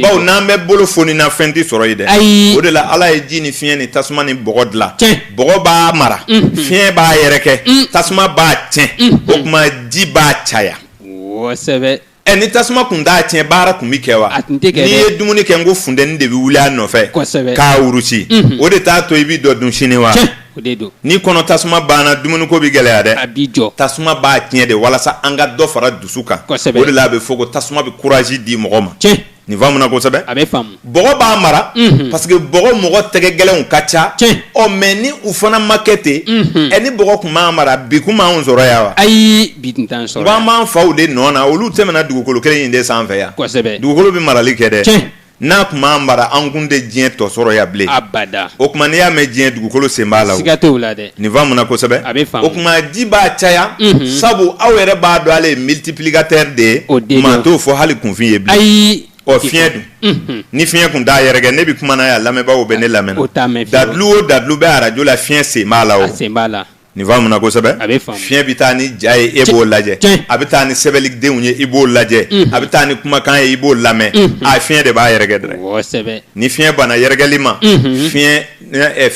bawo n'an bɛɛ bolo fonina fɛn tɛ sɔrɔ yen dɛ ayi o de la ala ye ji ni fiɲɛ ni tasuma ni bɔgɔ dilan bɔgɔ b'a mara fiɲɛ b'a yɛrɛkɛ tasuma b'a tiɲɛ o tuma ji b'a caya kosɛbɛ ɛ ni tasuma tun t'a tiɲɛ baara tun bɛ kɛ wa A tun tɛ kɛ dɛ. n'i ye dumuni kɛ n ko funteni de bɛ wuli a nɔfɛ Kosɛbɛ. k'a wurusi o de t'a to i bi dɔ dun sini wa tiɲɛ o de don ni kɔnɔ tasuma banna dumuniko bɛ gɛlɛya dɛ a b'i jɔ tasuma b'a tiɲɛ de walasa an ka dɔ fara dusu kan Kosɛbɛ. o de la a bɛ fɔ ko tasuma bɛ courage di mɔgɔ ma tiɲɛ Nin faamuna kosɛbɛ, a bɛ faamu, bɔgɔ b'a mara, unhun, parce que bɔgɔ mɔgɔ tɛgɛ gɛlɛnw ka ca, tiɲɛ, ɔ mais ni u fana ma kɛ ten, unhun, ɛ ni bɔgɔ tun m'an mara bi tun b'anw sɔrɔ yan wa? Ayi bi tun t'an sɔrɔ yan, n ko an b'an faw de nɔ na olu tɛmɛna dugukolo kelen in de sanfɛ yan, kosɛbɛ, dugukolo bɛ marali kɛ dɛ, tiɲɛ, n'a tun m'an mara an tun tɛ diɲɛ tɔ sɔrɔ yan bilen, abada, o tuma n'i y'a mɛn diɲɛ dugukolo sen b'a la o, siga t'o la dɛ Nin faamuna kosɛbɛ a bɛ faamu o tuma ji b'a caya sabu aw yɛrɛ b'a dɔn ale ye multiplicateur de ye o don maa t'o fɔ hali kunfin ye bilen ayi ɔ fiɲɛ dun ni fiɲɛ tun t'a yɛrɛkɛ ne bɛ kuma na yan lamɛnbaaw bɛ ne lamɛn na dalilu o dalilu bɛ arajo la fiɲɛ sen b'a la o sen b'a la nin faamuna kosɛbɛ a bɛ faamu fiɲɛ bɛ taa ni ja ye e b'o lajɛ a bɛ taa ni sɛbɛnnidenw ye i b'o lajɛ a bɛ taa ni kumakan ye i b'o lamɛn a fiɲɛ de b'a yɛrɛkɛ dɛ ni fiɲɛ banna yɛrɛkɛli ma tiɲɛ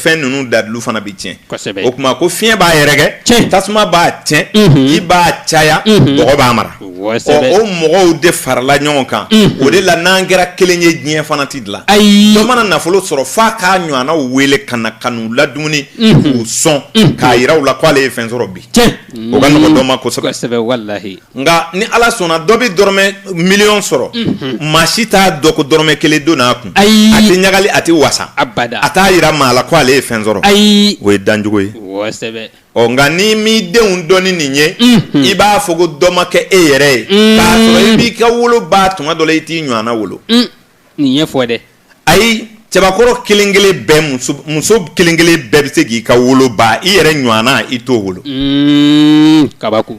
fɛn ninnu dalilu fana bɛ tiɲɛ o tuma ko fiɲɛ b'a yɛrɛkɛ tasuma b'a tiɲɛ ji b'a caya bɔgɔ b'a mara o mɔgɔw de farala ɲɔgɔn kan o de la n'an kɛra kelen ye diɲɛ fana tɛ dilan ayi dɔ mana nafolo sɔrɔ f'a k'a ɲɔgɔnnaw wele ka na ka n'u ladumuni k'u sɔn k'a jira u la k'ale ye fɛn sɔrɔ bi o ka nɔgɔn dɔ ma kosɛbɛ nka ni ala sɔnna dɔ bɛ dɔrɔmɛ miliyɔn sɔrɔ maa si t'a dɔn ko dɔrɔmɛ kelen donn'a kun ayi a tɛ ɲagali a tɛ wasa a t'a jira maa la ko ale ye fɛn sɔrɔ ayi o ye dancogo ye ɔ nka n'i m'i denw dɔn ni nin ye i b'a fɔ ko dɔ ma kɛ e yɛrɛ ye k'a sɔrɔ i b'i ka wolo ba tuma dɔ la i t'i ɲɔgɔnna wolo nin ye fɔ dɛ ayi cɛbakɔrɔ kelen kelen bɛɛ muso kelen kelen bɛɛ bɛ se k'i ka wolo ba i yɛrɛ ɲɔgɔnna i t'o wolo kabako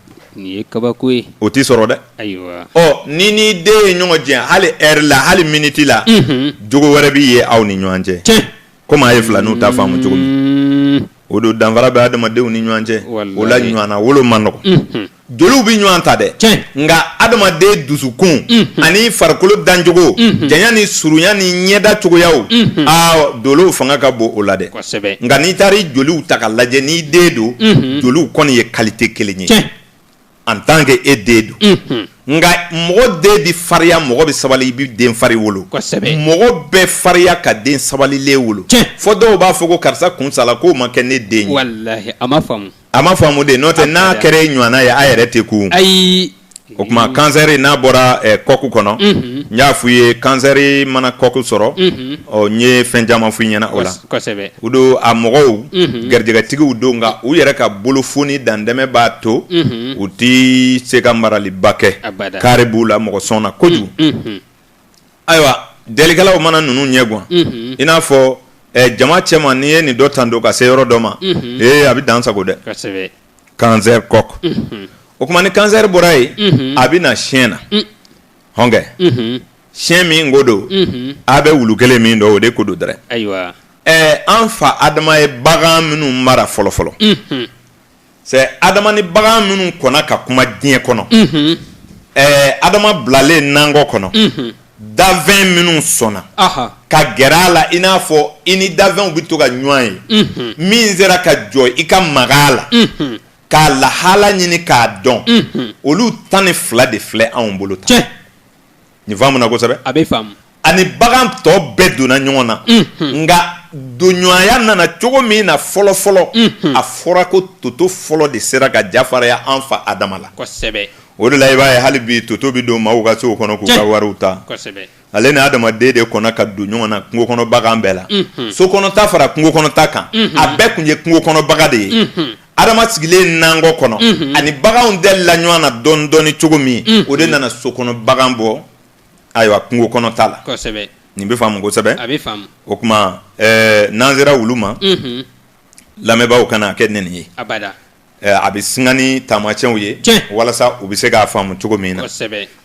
nin ye kabako ye o tɛ sɔrɔ dɛ ayiwa ɔ n'i n'i den ye ɲɔgɔn jɛ hali heure la hali miniti la jogo wɛrɛ bɛ ye aw ni ɲɔgɔn cɛ tiɲɛ komi a ye filaninw ta faamu cogo min o don danfara bɛ adamadenw ni ɲɔgɔn cɛ o la ɲɔgɔnna wolo man nɔgɔn joliw bɛ ɲɔgɔn ta dɛ tiɲɛ nka adamaden dusukun ani farikolo dancogo janya ni surunya ni ɲɛda cogoyaw aa dolow fanga ka bon o la dɛ nka n'i taara i joliw ta ka lajɛ n'i den don joliw kɔni ye qualité kelen ye en tant que e den don nka mɔgɔ den bɛ farinya mɔgɔ bɛ sabali i bɛ den fari wolo mɔgɔ bɛ farinya ka den sabalilen wolo fɔ dɔw b'a fɔ ko karisa kunsala k'o ma kɛ ne den A ma faamu de n'o tɛ n'a kɛra e ɲɔgɔnna ye a yɛrɛ tɛ kun ayi o kuma kansɛri n'a bɔra kɔku kɔnɔ n y'a f'u ye kansɛri mana kɔku sɔrɔ ɔ n ye fɛn caman f'u ɲɛna o la o don a mɔgɔw garijɛgɛtigiw don nka u yɛrɛ ka bolofoni dantɛmɛ b'a to u tɛ se ka maraliba kɛ kari b'u la mɔgɔ sɔn na kojugu Ayiwa delikɛlaw mana ninnu ɲɛ gan i n'a fɔ jama cɛma n'i ye nin dɔ tando ka se yɔrɔ dɔ ma ee a bɛ dansago dɛ kansɛri kɔku o kuma ni kansɛri bɔra yen a bɛ na siyɛn na hɔnkɛ siyɛn min ko don a bɛ wulu kelen min dɔn o de ko don dɛrɛ ayiwa an fa adama ye bagan minnu mara fɔlɔ fɔlɔ adama ni bagan minnu kɔnna ka kuma diɲɛ kɔnɔ adama bilalen nankɔ kɔnɔ danfɛn minnu sɔnna ka gɛrɛ a la i n'a fɔ i ni danfɛnw bɛ to ka ɲɔgɔn ye min sera ka jɔ i ka maga a la k'a lahala ɲini k'a dɔn olu tan ni fila de filɛ anw bolo tan Nin faamuna kosɛbɛ a bɛ faamu ani bagan tɔ bɛɛ donna ɲɔgɔn na nka donɲɔgɔnya nana cogo min na fɔlɔ fɔlɔ a fɔra ko toto fɔlɔ de sera ka jafaraya an fa adama la kosɛbɛ o de la i b'a ye hali bi toto bɛ don maaw ka so kɔnɔ k'u ka wariw ta ale ni adamaden de kɔnna ka don ɲɔgɔn na kungo kɔnɔ bagan bɛɛ la so kɔnɔta fara kungo kɔnɔta kan a bɛɛ tun ye kungo kɔnɔbaga de ye adama sigilen nankɔ kɔnɔ ani baganw delila ɲɔgɔn na dɔɔni dɔɔni cogo min o de nana so kɔnɔ bagan bɔ ayiwa kungo kɔnɔ ta la nin bɛ faamu kosɛbɛ o kuma n'an sera wulu ma lamɛnbaaw kana a kɛ nɛni ye a bɛ singa ni taamasiyɛnw ye walasa u bɛ se k'a faamu cogo min na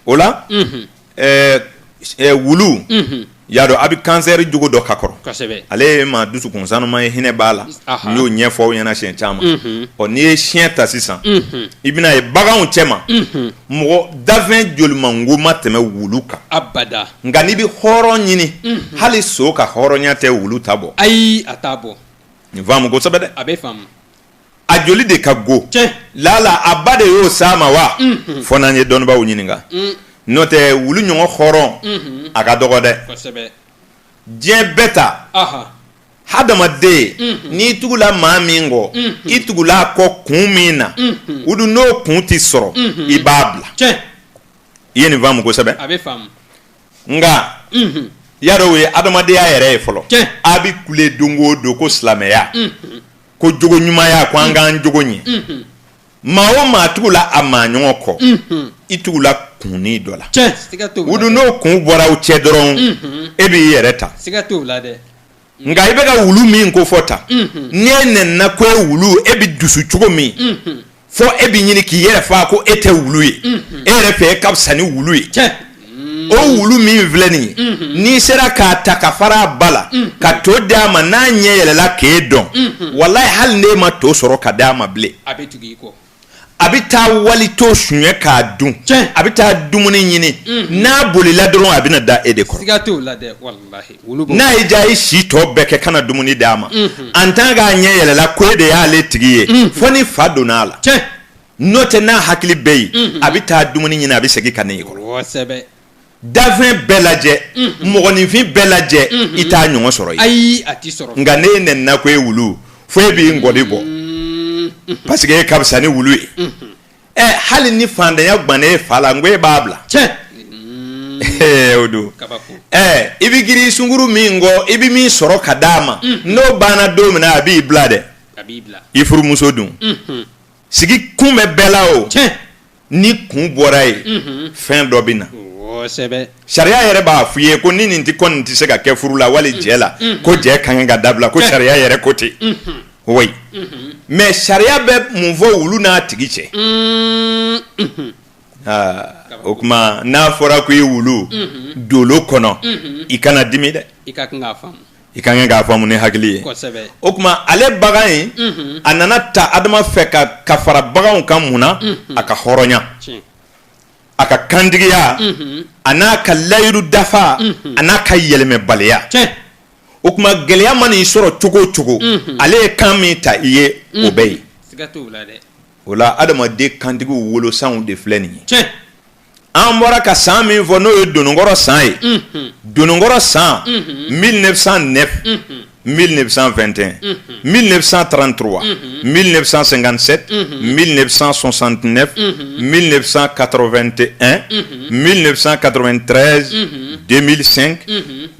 o la wulu y'a dɔn a bɛ kansɛri jogo dɔ ka kɔrɔ ale ye maa dusukun sanuma ye hinɛ b'a la n y'o ɲɛfɔ aw ɲɛna siɲɛ caman ɔ n'i ye siyɛn ta sisan i bɛna ye baganw cɛ ma mɔgɔ dafɛn jolimango ma tɛmɛ wulu kan nka n'i bɛ hɔrɔn ɲini hali so ka hɔrɔnya tɛ wulu ta bɔ ayi a t'a bɔ nin faamu kosɛbɛ a bɛ a joli de ka go lala a ba de y'o s'a ma wa mhm. fo n'an ye dɔnnibaw ɲininka mm. n'o tɛ wulu ɲɔgɔn hɔrɔn mhm. a ka dɔgɔ dɛ diɲɛ bɛɛ ta hadamaden mhm. n'i tugula maa min kɔ i tugula a kɔ kun min na o dun n'o kun tɛ sɔrɔ i b'a bila i ye nin faamu kosɛbɛ nka y'a dɔn o ye hadamadenya yɛrɛ ye fɔlɔ a bɛ kule don o don ko silamɛya. ko jogo ɲumanya ko an k'an jogo ɲɛ maa o maa tugula a maa ɲɔgɔn kɔ i tugula kunnin dɔ la o dun n'o kun bɔra aw cɛ dɔrɔn e b'i yɛrɛ ta nka i bɛ ka wulu min kofɔ tan ni e nɛnina ko e wulu e bɛ dusu cogo min fɔ e bɛ ɲini k'i yɛrɛ fa ko e tɛ wulu ye e yɛrɛ fɛ e ka fisa ni wulu ye o wulu min filɛ nin ye n'i sera k'a ta ka fara a ba la ka to di a ma n'a ɲɛ yɛlɛla k'e dɔn walayi hali n'e ma to sɔrɔ ka di a ma bilen a bɛ tugu i kɔ a bɛ taa wali to suɲɛ k'a dun a bɛ taa dumuni ɲini n'a bolila dɔrɔn a bɛna da e de kɔrɔ siga t'o la dɛ walahi n'a y'i diya i si tɔ bɛɛ kɛ kana dumuni d'a ma en tant k'a ɲɛ yɛlɛla ko e de y'ale tigi ye fo ni fa donna a la n'o tɛ n'a hakili bɛ yen a bɛ taa dumuni ɲini a bɛ segin ka na e kɔrɔ dafɛn bɛɛ lajɛ mɔgɔninfin bɛɛ lajɛ i t'a ɲɔgɔn sɔrɔ ayi nka ni e nɛnina ko e wulu fo e b'i n gɔdi bɔ parce que e ka fisa ni wulu ye ɛ hali ni fantanya gwanna e fa la n ko e b'a bila tiɲɛ mm. o don ɛ i bɛ girin sungurun min kɔ i bɛ min sɔrɔ ka d'a ma mm. n'o banna don min na a b'i bila dɛ i furumuso dun mm-hmm. sigi kun bɛ bɛɛ la o ni kun bɔra yen mm-hmm. fɛn dɔ bɛ na kosɛbɛ sariya yɛrɛ b'a f'i ye ko ni nin tɛ kɔni tɛ se ka kɛ furu la wali jɛ la mm-hmm. ko jɛ ka kan ka dabila ko sariya yɛrɛ ko ten oui mais sariya bɛ mun fɔ wulu n'a tigi cɛ o kuma n'a fɔra ko e wulu dolo kɔnɔ i kana dimi dɛ i ka kan k'a faamu ni hakili ye o kuma ale bagan in a nana ta adama fɛ ka ka fara baganw kan mun na a ka hɔrɔnya a ka kantigiya a n'a ka layiru dafa a n'a ka yɛlɛmɛbaliya o tuma gɛlɛya ma nin sɔrɔ cogo o cogo ale ye kan min ta i ye o bɛ yen o la adamaden kantigi wolo san de filɛ nin ye an bɔra ka san min fɔ n'o ye donkɔrɔ san ye donkɔrɔ san mi ne bɛ san nɛ mi ne bɛ san fɛnɛn mi ne bɛ san tanranto wa mi ne bɛ san senkansen mi ne bɛ san sonsant mi ne bɛ san kato2te mi ne bɛ san kato2t den mi sen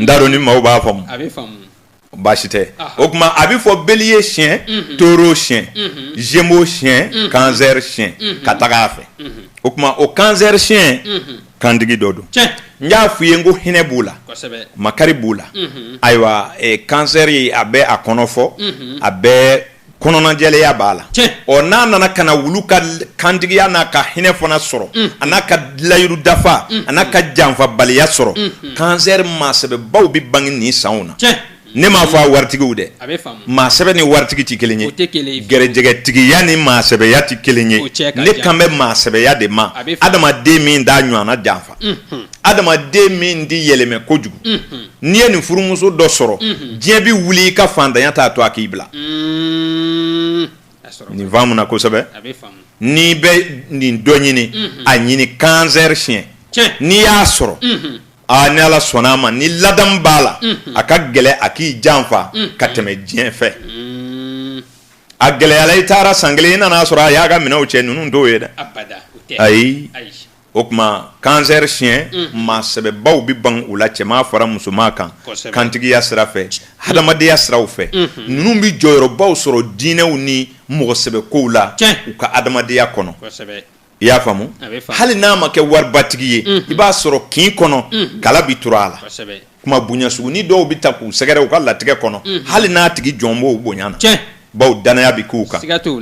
n t'a dɔn ni maaw b'a faamu a bɛ faamu baasi tɛ o tuma a bɛ fɔ beliye siɲɛ mhm. toro siɲɛ mhm. zemo siɲɛ mhm. kansɛri siɲɛ ka taga a fɛ o tuma o kansɛri siɲɛ kantigi dɔ don n y'a f'i ye n ko hinɛ b'u la makari b'u la ayiwa e, kansɛri a bɛ a kɔnɔ fɔ a bɛ kɔnɔnajɛlenya b'a la ɔ n'a nana ka na wulu ka kantigiya n'a ka hinɛ fana sɔrɔ a n'a ka layiru dafa a n'a ka janfabaliya sɔrɔ kansɛri maa sɛbɛbaw bɛ bange nin sanw na ne m'a fɔ a waritigiw dɛ maa sɛbɛ ni waritigi tɛ kelen ye gɛrɛjɛgɛtigiya ni maa sɛbɛya tɛ kelen ye ne kan bɛ maa sɛbɛya de ma adamaden min t'a ɲɔgɔnna jan adamaden min tɛ yɛlɛmɛ kojugu n'i ye nin furumuso dɔ sɔrɔ diɲɛ bɛ wuli i ka faantanya t'a to a k'i bila nin faamu n na kosɛbɛ n'i bɛ nin dɔ ɲini a ɲini kansɛri siɲɛ n'i y'a sɔrɔ aa ni ala sɔnna a ma ni ladamu b'a la a ka gɛlɛ a k'i janfa ka tɛmɛ diɲɛ fɛ a gɛlɛyala i taara san kelen i nana a sɔrɔ a y'a ka minɛnw cɛ ninnu t'o ye dɛ ayi O tuma kansɛri siɲɛ maa sɛbɛbaw bɛ ban u la cɛman fara musoman kan kantigiya sira fɛ hadamadenya siraw fɛ ninnu bɛ jɔyɔrɔbaw sɔrɔ diinɛw ni mɔgɔ sɛbɛ kow la u ka adamadenya kɔnɔ i y'a faamu hali n'a ma kɛ waribatigi ye i b'a sɔrɔ kin kɔnɔ kala bɛ turu a la kuma bonya sugunin dɔw bɛ taa k'u sɛgɛrɛ u ka latigɛ kɔnɔ hali n'a tigi jɔn b'o bonya na baw dannaya bɛ k'u kan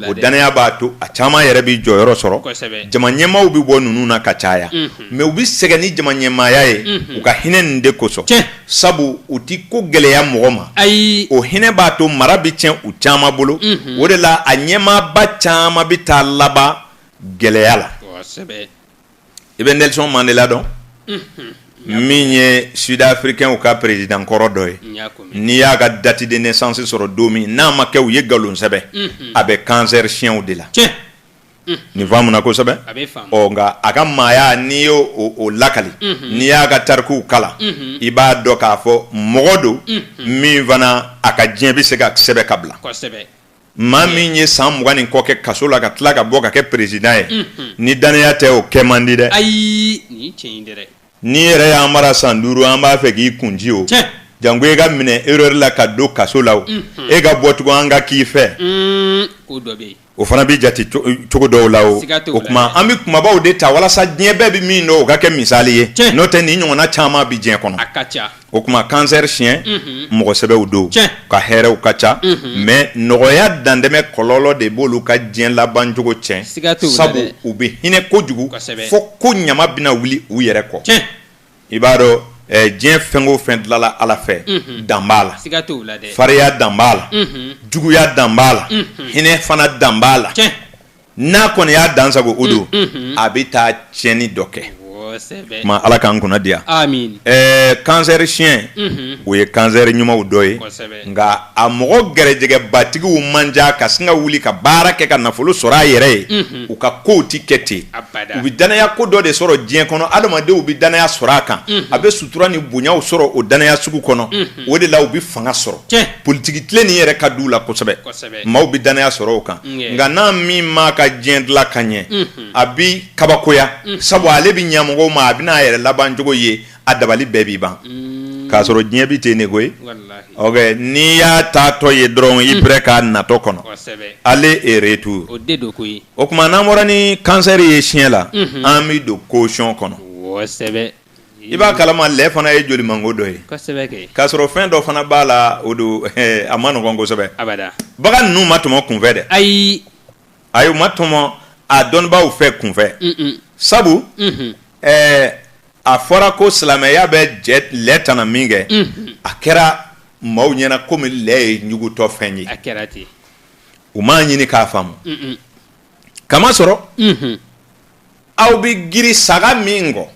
o dannaya b'a to a caman yɛrɛ bɛ jɔyɔrɔ sɔrɔ jama ɲɛmaaw bɛ bɔ ninnu na ka caya mɛ u bɛ sɛgɛn ni jama ɲɛmaaya ye u ka hinɛ nin de kosɔn sabu u tɛ ko gɛlɛya mɔgɔ ma ayi o hinɛ b'a to mara bɛ tiɲɛ u caman bolo o de la a ɲɛmaaba caman bɛ taa laban gɛlɛya la i bɛ nelson mandela dɔn min ye sudafirikɛnw ka peresidan kɔrɔ dɔ ye n'i y'a ka date de naissance sɔrɔ don min n'a ma kɛ u ye nkalon sɛbɛn a bɛ kansɛri siɲɛw de la nin faamu n na kosɛbɛ ɔ nka a ka maaya n'i y' o lakali n'i y'a ka tarikuw kalan i b'a dɔn k'a fɔ mɔgɔ don min fana a ka diɲɛ bɛ se ka sɛbɛn ka bila maa min ye san mugan ni kɔ kɛ kaso la ka tila ka bɔ ka kɛ peresidan ye ni dannaya tɛ o kɛ man di dɛ ayi n'i yɛrɛ y'an mara san duuru an b'a fɛ k'i kun ci o janko e ka minɛ ɛrɛri la ka don kaso la e ka bɔ tugun an ka k'i fɛ o fana bɛ jate cogo dɔw la o o tuma an bɛ kunbabaw de ta walasa diɲɛ bɛɛ bɛ min dɔn o ka kɛ misali ye n'o tɛ nin ɲɔgɔnna caman bɛ diɲɛ kɔnɔ o tuma kansɛri siɲɛ mɔgɔ sɛbɛw don ka hɛrɛw ka ca mɛ nɔgɔya dantɛmɛ kɔlɔlɔ de b'olu ka diɲɛ labancogo tiɲɛ sabu u bɛ hinɛ kojugu fo ko ɲama bɛna wuli u yɛrɛ kɔ i b'a dɔn diɲɛ fɛn o fɛn dilanla ala fɛ dan b'a la fariya dan b'a la juguya dan b'a la hinɛ fana dan b'a la n'a kɔni y'a dansago o don a bɛ taa tiɲɛni dɔ kɛ tuma ala k'an kunna diya ɛɛ kansɛri siɲɛ o ye kansɛri ɲumanw dɔ ye nka a mɔgɔ gɛrɛjɛgɛbatigiw man ca ka sin ka wuli ka baara kɛ ka nafolo sɔrɔ a yɛrɛ ye u ka kow tɛ kɛ ten u bɛ dannaya ko dɔ de sɔrɔ diɲɛ kɔnɔ adamadenw bɛ dannaya sɔrɔ a kan a bɛ sutura ni bonyaw sɔrɔ o dannaya sugu kɔnɔ o de la u bɛ fanga sɔrɔ politiki tilen nin yɛrɛ ka di u la kosɛbɛ maaw bɛ dannaya sɔrɔ o kan nka n'a min m'a ka diɲɛ dilan ka ɲɛ a bɛ kabakoya sabu ale bɛ ɲa mɔgɔw ma a bɛ n'a yɛrɛ labancogo ye a dabali bɛɛ bɛ ban k'a sɔrɔ diɲɛ bɛ ten ne koyi ye n'i y'a taatɔ ye dɔrɔn i pɛrɛ k'a natɔ kɔnɔ ale reto o tuma n'an bɔra ni kansɛri ye siɲɛ la an bɛ don kosɔn kɔnɔ i b'a kala ma lɛ fana ye jolimango dɔ ye k'a sɔrɔ fɛn dɔ fana b'a la o don a ma nɔgɔ kosɛbɛ bagan ninnu ma tɔmɔ kunfɛ dɛ ayi u ma tɔmɔ a dɔnnibaaw fɛ kunfɛ sabu a fɔra ko silamɛya bɛ lɛ tana minkɛ a kɛra maaw ɲɛna kɔmi lɛ ye ɲugutɔ fɛn ye u m'a ɲini k'a faamu k'a masɔrɔ aw bɛ girin saga min kɔ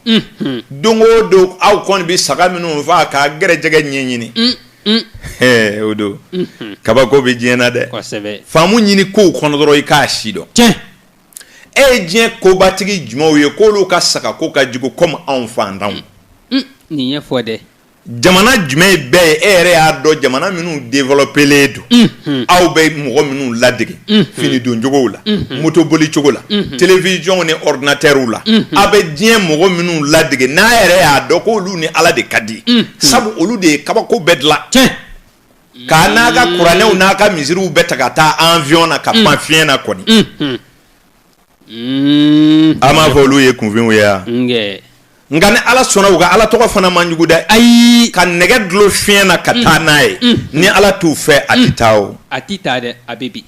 don o don aw kɔni bɛ saga minnu faa ka gɛrɛjɛgɛ ɲɛɲini o don kabako bɛ diɲɛ na dɛ faamu ɲini kow kɔnɔ dɔrɔn i k'a si dɔn cɛ e ye diɲɛ kobatigi jumɛnw ye k'olu ka saga ko ka jugu kɔmi anw faantanw nin ɲɛfɔ dɛ jamana jumɛn bɛɛ ye e yɛrɛ y'a dɔn jamana minnu dewelɔpelen don aw bɛ mɔgɔ minnu ladege fini doncogo la motoboli cogo la telewisɔn ni ɔridinatɛriw la aw bɛ diɲɛ mɔgɔ minnu ladege n'a yɛrɛ y'a dɔn ko olu ni ala de ka di sabu olu de ye kabako bɛɛ dilan cɛ ka n'a ka kuranɛw n'a ka misiriw bɛɛ ta ka taa awiyɔn na ka pan fiɲɛ na kɔni Mm. An b'a fɔ olu ye kunfinw ye wa? Nkɛ. Nka ni Ala sɔnna u ka Ala tɔgɔ fana man jugu dɛ. Ayi. Ka nɛgɛ dulon fiɲɛ na ka taa mm. n'a ye. Mm. Ni Ala t'u fɛ a tɛ mm. taa o. A tɛ taa dɛ, a bɛ bin.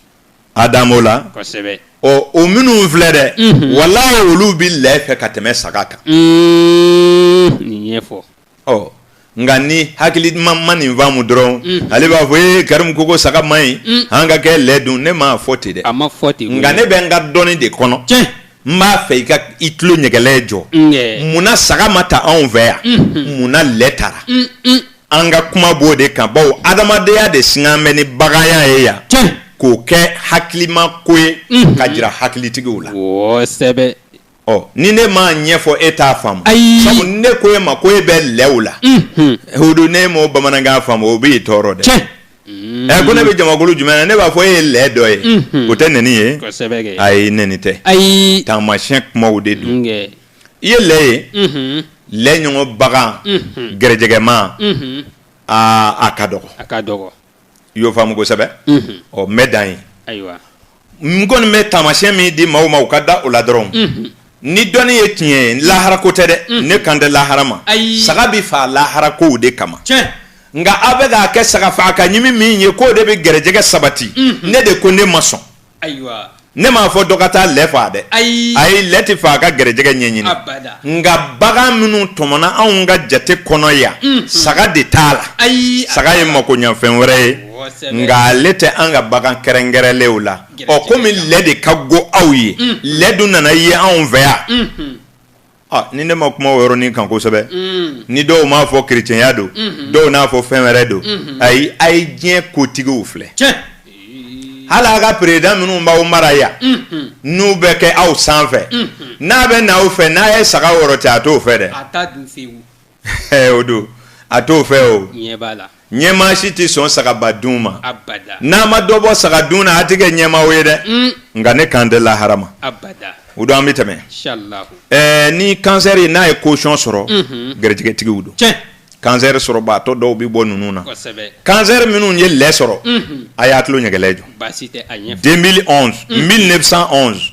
A dan b'o la. Kosɛbɛ. Ɔ o minnu filɛ dɛ. Mm-hmm. Walayi olu bɛ lɛ fɛ ka tɛmɛ saga kan. Nin ɲɛfɔ. ɔ nka ni hakili min ma nin faamu dɔrɔn mm. ale b'a fɔ ee karimu ko ko saga man ɲi mm. an ka kɛ lɛ dun ne m'a fɔ ten dɛ a ma fɔ ten nka ne bɛ n ka dɔnni de kɔnɔ tiɲɛ n b'a fɛ i ka i tulo ɲɛgɛlɛ jɔ munna saga ma ta anw fɛ yan mm-hmm. munna lɛ tara mm-hmm. an ka kuma b'o de kan bawo adamadenya de singan bɛ ni baganya ye yan tiɲɛ k'o kɛ hakilima ko ye mm-hmm. ka jira hakilitigiw la kosɛbɛ ɔ ni ne m'a ɲɛfɔ e t'a faamu ayi sabu ne ko e ma ko e bɛ lɛw la o don ne m'o bamanankan faamu o b'i tɔɔrɔ dɛ tiɲɛ ɛ ko ne bɛ jamakulu jumɛn na ne b'a fɔ e ye lɛ dɔ ye o tɛ nɛni ye kosɛbɛ kɛ ayi nɛni tɛ ayi taamasiyɛn kumaw de don nkɛ i ye lɛ ye mhm, lɛ ɲɔgɔn bagan gɛrɛjɛgɛma mhm, aa a ka dɔgɔ a ka dɔgɔ i y'o faamu kosɛbɛ ɔ n bɛ dan yen n kɔni bɛ taamasiyɛn min di maaw ma u ka da o la dɔrɔn ni dɔnni ye tiɲɛ ye lahara ko tɛ dɛ ne kan tɛ lahara ma saga bɛ faa lahara kow de kama nka aw bɛ k'a kɛ saga faga ka ɲimi min ye k'o de bɛ gɛrɛjɛgɛ sabati ne de ko ne ma sɔn ayiwa ne m'a fɔ dɔ ka taa lɛ faa dɛ ayi ayi lɛ tɛ faa ka gɛrɛjɛgɛ ɲɛɲini abada nka bagan minnu tɔmɔna anw ka jate kɔnɔ yan mm-hmm. saga de t'a la ayi saga ye makoɲɛfɛn wɛrɛ ye nka ale tɛ an ka bagan kɛrɛnkɛrɛnlenw la ɔ komi lɛ de ka go aw ye mm-hmm. lɛ dun nana ye anw fɛ yan mm-hmm. Ni ne ma kuma o yɔrɔnin kan kosɛbɛ ni dɔw m'a fɔ kerecɛnya don dɔw n'a fɔ fɛn wɛrɛ don ayi a ye diɲɛ kotigiw filɛ hali a ka peresidan minnu b'aw mara yan n'u bɛ kɛ aw sanfɛ n'a bɛ n'aw fɛ n'a ye saga yɔrɔ cɛ a t'o fɛ dɛ ɛ o don a t'o fɛ o ɲɛ b'a la ɲɛmaa si tɛ sɔn sagaba dun ma abada n'a ma dɔ bɔ saga dun na a tɛ kɛ ɲɛmaa o ye dɛ un nka ne kan tɛ lahara ma abada o don an bɛ tɛmɛ inshallah ɛɛ ni kansɛri ye n'a ye kosɔn sɔrɔ Mhm. gɛrɛjɛgɛtigiw don tiɲɛ kansɛri sɔrɔbaatɔ dɔw bɛ bɔ ninnu na kosɛbɛ kansɛri minnu ye lɛ sɔrɔ Mhm. a y'a tulo ɲɛgɛlɛ jɔ baasi tɛ a ɲɛ 2011 1911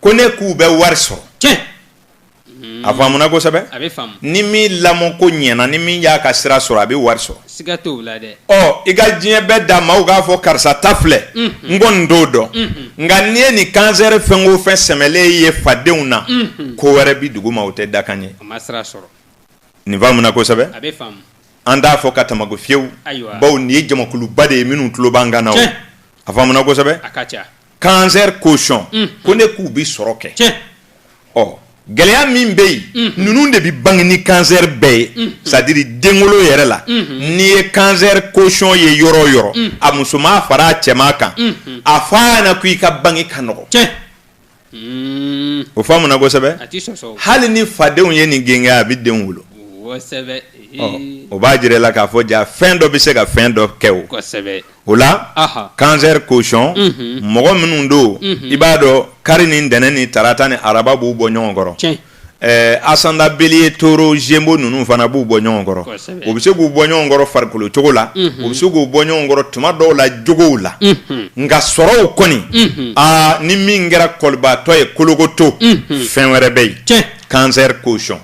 ko ne k'u bɛ wari sɔrɔ tiɲɛ a faamuna kosɛbɛ a bɛ faamu ni min lamɔ ko ɲɛna ni min y'a ka sira sɔrɔ a bɛ wari sɔrɔ siga t'o la dɛ ɔ i ka diɲɛ bɛɛ da maaw k'a fɔ karisa ta filɛ n kɔni t'o dɔn nka n'i ye nin kansɛri fɛn o fɛn sɛmɛlen ye fadenw na ko wɛrɛ bi dugu ma o tɛ dakan ye a ma sira sɔrɔ nin faamuna kosɛbɛ a bɛ faamu an t'a fɔ ka tamago fiyewu Ayiwa. bawo nin ye jamakuluba de ye minnu tulo b'an kan na o Tiɲɛ. a faamuna kosɛbɛ a ka ca kansɛri kosɔn mm. ko ne k'u bɛ sɔrɔ kɛ ɔ gɛlɛya min bɛ yen mm. ninnu de bɛ bange ni kansɛri bɛɛ ye mm. sɛtadiri denwolo yɛrɛ la mm-hmm. n'i ye kansɛri kosɔn ye yɔrɔ o yɔrɔ a musoman fara a cɛman kan mm-hmm. a fɔ a ɲɛna ko i ka bange ka nɔgɔ o faamuna kosɛbɛ hali ni fadenw ye nin gɛngɛ a bɛ den wolo o b'a jira i la k'a fɔ jaa fɛn dɔ bɛ se ka fɛn dɔ kɛ o o la kansɛri kosɔn mɔgɔ minnu don i b'a dɔn kari ni ntɛnɛn ni tarata ni araba b'u bɔ ɲɔgɔn kɔrɔ asandan beliye toro zemo ninnu fana b'u bɔ ɲɔgɔn kɔrɔ o bɛ se k'u bɔ ɲɔgɔn kɔrɔ farikolo cogo la o bɛ se k'u bɔ ɲɔgɔn kɔrɔ tuma dɔw la jogow la nka sɔrɔw kɔni aa ni min kɛra kɔlibaatɔ ye kolokoto fɛn wɛrɛ bɛ yen kansɛri kosɔn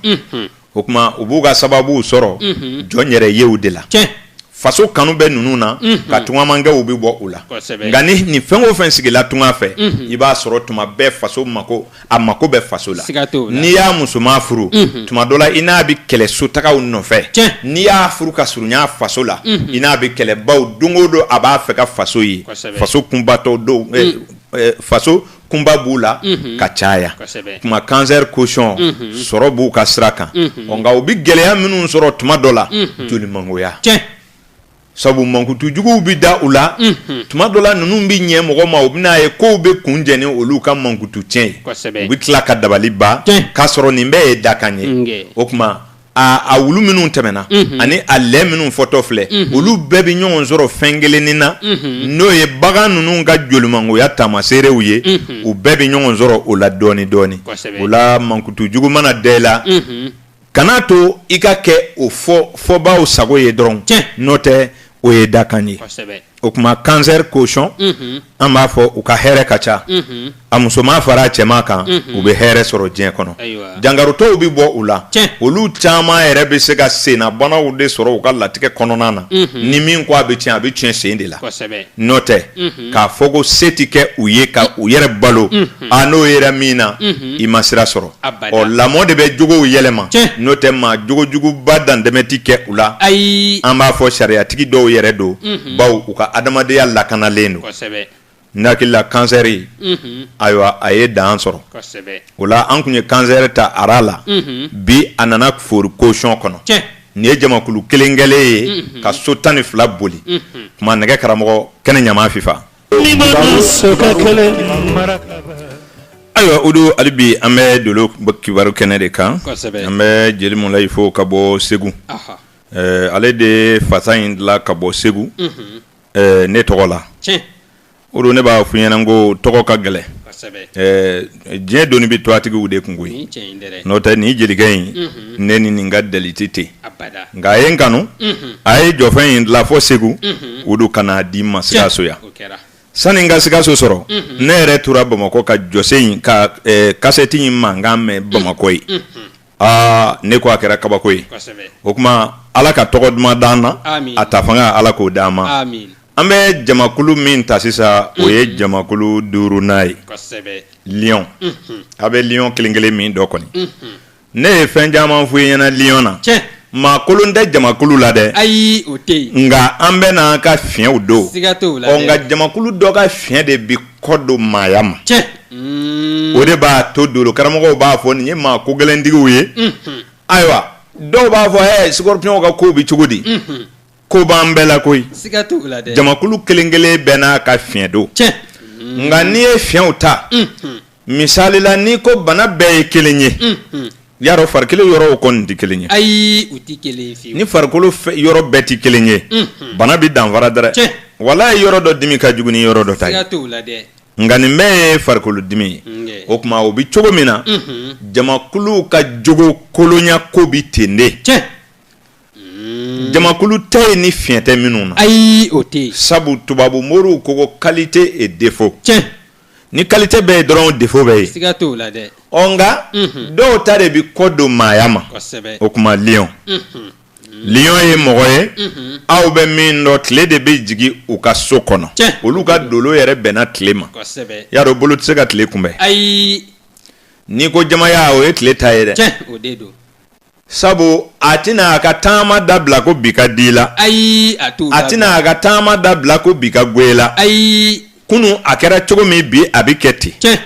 o kuma u b'u ka sababuw sɔrɔ jɔn yɛrɛ yew de la faso kanu bɛ ninnu na ka tungamakɛw bɛ bɔ u la nka ni fɛn o fɛn sigila tunga fɛ i b'a sɔrɔ tuma bɛɛ faso mako a mako bɛ faso la n'i y'a musoman furu tuma dɔ la i n'a bɛ kɛlɛ sotagaw nɔfɛ n'i y'a furu ka surunya faso la i n'a bɛ kɛlɛ bawo don o don a b'a fɛ ka faso ye faso kunbatɔ don faso kunba b'u la ka caya kuma kansɛri kosɔn sɔrɔ b'u ka sira kan nka u bɛ gɛlɛya minnu sɔrɔ tuma dɔ la jolimangoya sabu mankutujuguw bɛ da u la tuma dɔ la ninnu bɛ ɲɛ mɔgɔ ma u bɛn'a ye ko u bɛ kun jeni olu ka mankutu tiɲɛ ye u bɛ tila ka dabali ban k'a sɔrɔ nin bɛɛ ye dakan ye o kuma a wulu minnu tɛmɛna ani a lɛ minnu fɔtɔ filɛ olu bɛɛ bɛ ɲɔgɔn sɔrɔ fɛn kelennin na n'o ye bagan ninnu ka jolimangoya taamaseerew ye u bɛɛ bɛ ɲɔgɔn sɔrɔ o la dɔɔni dɔɔni o la mankutu jugu mana da i la kan'a to i ka kɛ o fɔ fɔbaaw sago ye dɔrɔn n'o tɛ o ye dakan ye o kuma kansɛri kosɔn an b'a fɔ u ka hɛrɛ ka ca a musoman fara a cɛman kan u bɛ hɛrɛ sɔrɔ diɲɛ kɔnɔ jankarotɔw bɛ bɔ u la olu caman yɛrɛ bɛ se ka sennabanaw de sɔrɔ u ka latigɛ kɔnɔna na ni min ko a bɛ tiɲɛ a bɛ tiɲɛ sen de la n'o tɛ k'a fɔ ko se tɛ kɛ u ye ka u yɛrɛ balo n'o yɛrɛ min na i ma sira sɔrɔ ɔ lamɔ de bɛ jogow yɛlɛma n'o tɛ maa jogojuguba dantɛmɛ tɛ kɛ u la ayi an b'a fɔ sariyatigi dɔw yɛrɛ don bawo u ka adamadenya lakanalen don n hakili la kansɛri ayiwa a ye dan sɔrɔ o la an kun ye kansɛri ta ara la bi a nana foori kosɔn kɔnɔ nin ye jamakulu kelen kɛlen ye ka so tan ni fila boli kuma nɛgɛ karamɔgɔ kɛnɛ ɲama fifa Ayiwa o don hali bi an bɛ dolo kibaru kɛnɛ de kan an bɛ jeli Mulayi fo ka bɔ segu ale de fasa in dilan ka bɔ segu ne tɔgɔ la o don ne b'a fɔ i ɲɛna ko tɔgɔ ka gɛlɛn diɲɛ doni bɛ tɔgɔtigiw de kun koyi n'o tɛ nin jelikɛ in ne ni nin ka deli tun tɛ nka a ye n kanu a ye jɔfɛn in dilan fɔ segu o don ka n'a di n ma sikaso yan sani n ka sikaso sɔrɔ ne yɛrɛ tora bamakɔ ka jɔse in ka kasɛti in mankan mɛn bamakɔ yen aa ne ko a kɛra kabako ye kosɛbɛ o tuma ala ka tɔgɔ duman d'an na Amin. a ta fanga ala k'o d'an ma amin an bɛ jamakulu min ta sisan o ye jamakulu duurunan ye kosɛbɛ liyɔn a bɛ liyɔn kelen kelen min dɔn kɔni ne ye fɛn caman fɔ i ɲɛna liyɔn na tiɲɛ maa kolon tɛ jamakulu la dɛ ayi o tɛ yen nka an bɛɛ n'an ka fiɲɛw don siga t'o la ɔ dɛ. nka jamakulu dɔ ka fiɲɛ de bi kɔ don maaya ma mm. o de b'a to dolo karamɔgɔw b'a fɔ nin ye maa ko gɛlɛntigiw ye mm-hmm. ayiwa dɔw b'a fɔ ɛ sikɔrɔpyɔnw ka kow bɛ cogo di mm-hmm. ko b'an bɛɛ la koyi jamakulu kelen kelen bɛɛ n'a ka fiɲɛ don nka n'i ye fiɲɛw ta mm-hmm. misali la n'i ko bana bɛɛ ye kelen ye I y'a dɔn farikolo yɔrɔw kɔni tɛ kelen ye ayi u tɛ kelen ye ni farikolo yɔrɔ bɛɛ tɛ kelen ye bana bɛ danfara dɛ walayi yɔrɔ dɔ dimi ka jugu ni yɔrɔ dɔ ta ye siga t'o la dɛ nka nin bɛɛ ye farikolo dimi ye o tuma o bɛ cogo min na jamakuluw ka jogo kolonya ko bɛ ten de cɛ jamakulu tɛ yen ni fiɲɛ tɛ minnu na ayi o tɛ sabu tubabu moriw ko ko kalite e defo cɛ ni kalite bɛ yen dɔrɔn defo bɛ yen siga t'o la dɛ ɔ nka dɔw ta de bɛ kɔ don maaya ma o tuma liɔn liɔn ye mɔgɔ ye aw bɛ min dɔn tile de bɛ jigin u ka so kɔnɔ olu ka dolo yɛrɛ bɛnna tile ma i y'a dɔn bolo tɛ se ka tile kunbɛn ayi n'i ko jamaya o ye tile ta ye dɛ sabu a tɛna a ka taama dabila ko bi ka di la ayi a t'o a tɛna a ka taama dabila ko bi ka go i la ayi kunu a kɛra cogo min bi a bɛ kɛ ten tiɲɛ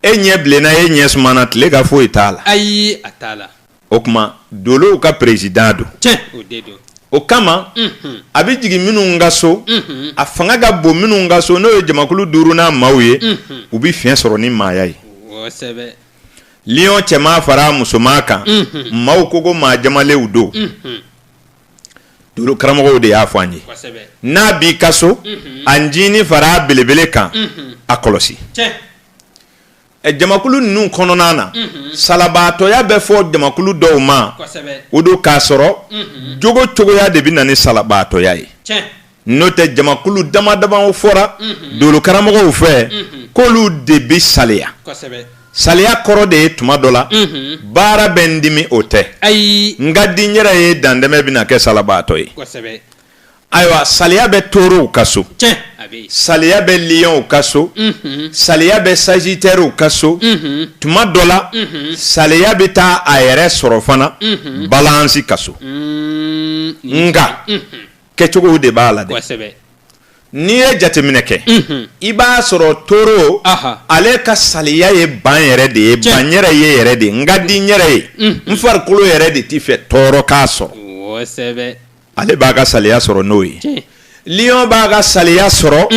e ɲɛ bilenna e ɲɛ sumana tile ka foyi t'a la ayi a t'a la o tuma dolow ka perezidan don tiɲɛ o de don o kama unhun a bɛ jigin minnu ka so unhun a fanga ka bon minnu ka so n'o ye jamakulu duurunan maaw ye unhun u bɛ fiɲɛ sɔrɔ ni maaya ye kosɛbɛ Liyɔn cɛman fara musoman kan maaw ko ko maa jamalenw don dolo karamɔgɔw de y'a fɔ an ye n'a b'i ka so a ncinin fara belebele kan a kɔlɔsi jamakulu ninnu kɔnɔna na salabaatɔya bɛ fɔ jamakulu dɔw ma o don k'a sɔrɔ jogo cogoya de bɛ na ni salabaatɔya ye n'o tɛ jamakulu dama dama fɔra dolo karamɔgɔw fɛ k'olu de bɛ saliya saliya kɔrɔ de ye tuma dɔ la baara bɛ n dimi o tɛ ayi n ka di n yɛrɛ ye dantɛmɛ bɛna kɛ salabaatɔ ye ayiwa saliya bɛ torow ka so saliya bɛ lionw ka so saliya bɛ sajitɛriw ka so tuma dɔ la saliya bɛ taa a yɛrɛ sɔrɔ fana balansi ka so nka kɛcogow de b'a la dɛ kosɛbɛ n'i ye jateminɛ kɛ i b'a sɔrɔ toro Aha. ale ka saliya ye ban yɛrɛ de ye Tiɲɛ. ban yɛrɛ ye yɛrɛ de ye n ka di n yɛrɛ ye n farikolo yɛrɛ de t'i fɛ tɔɔrɔ k'a sɔrɔ kosɛbɛ ale b'a ka saliya sɔrɔ n'o ye tiɲɛ lion b'a ka saliya sɔrɔ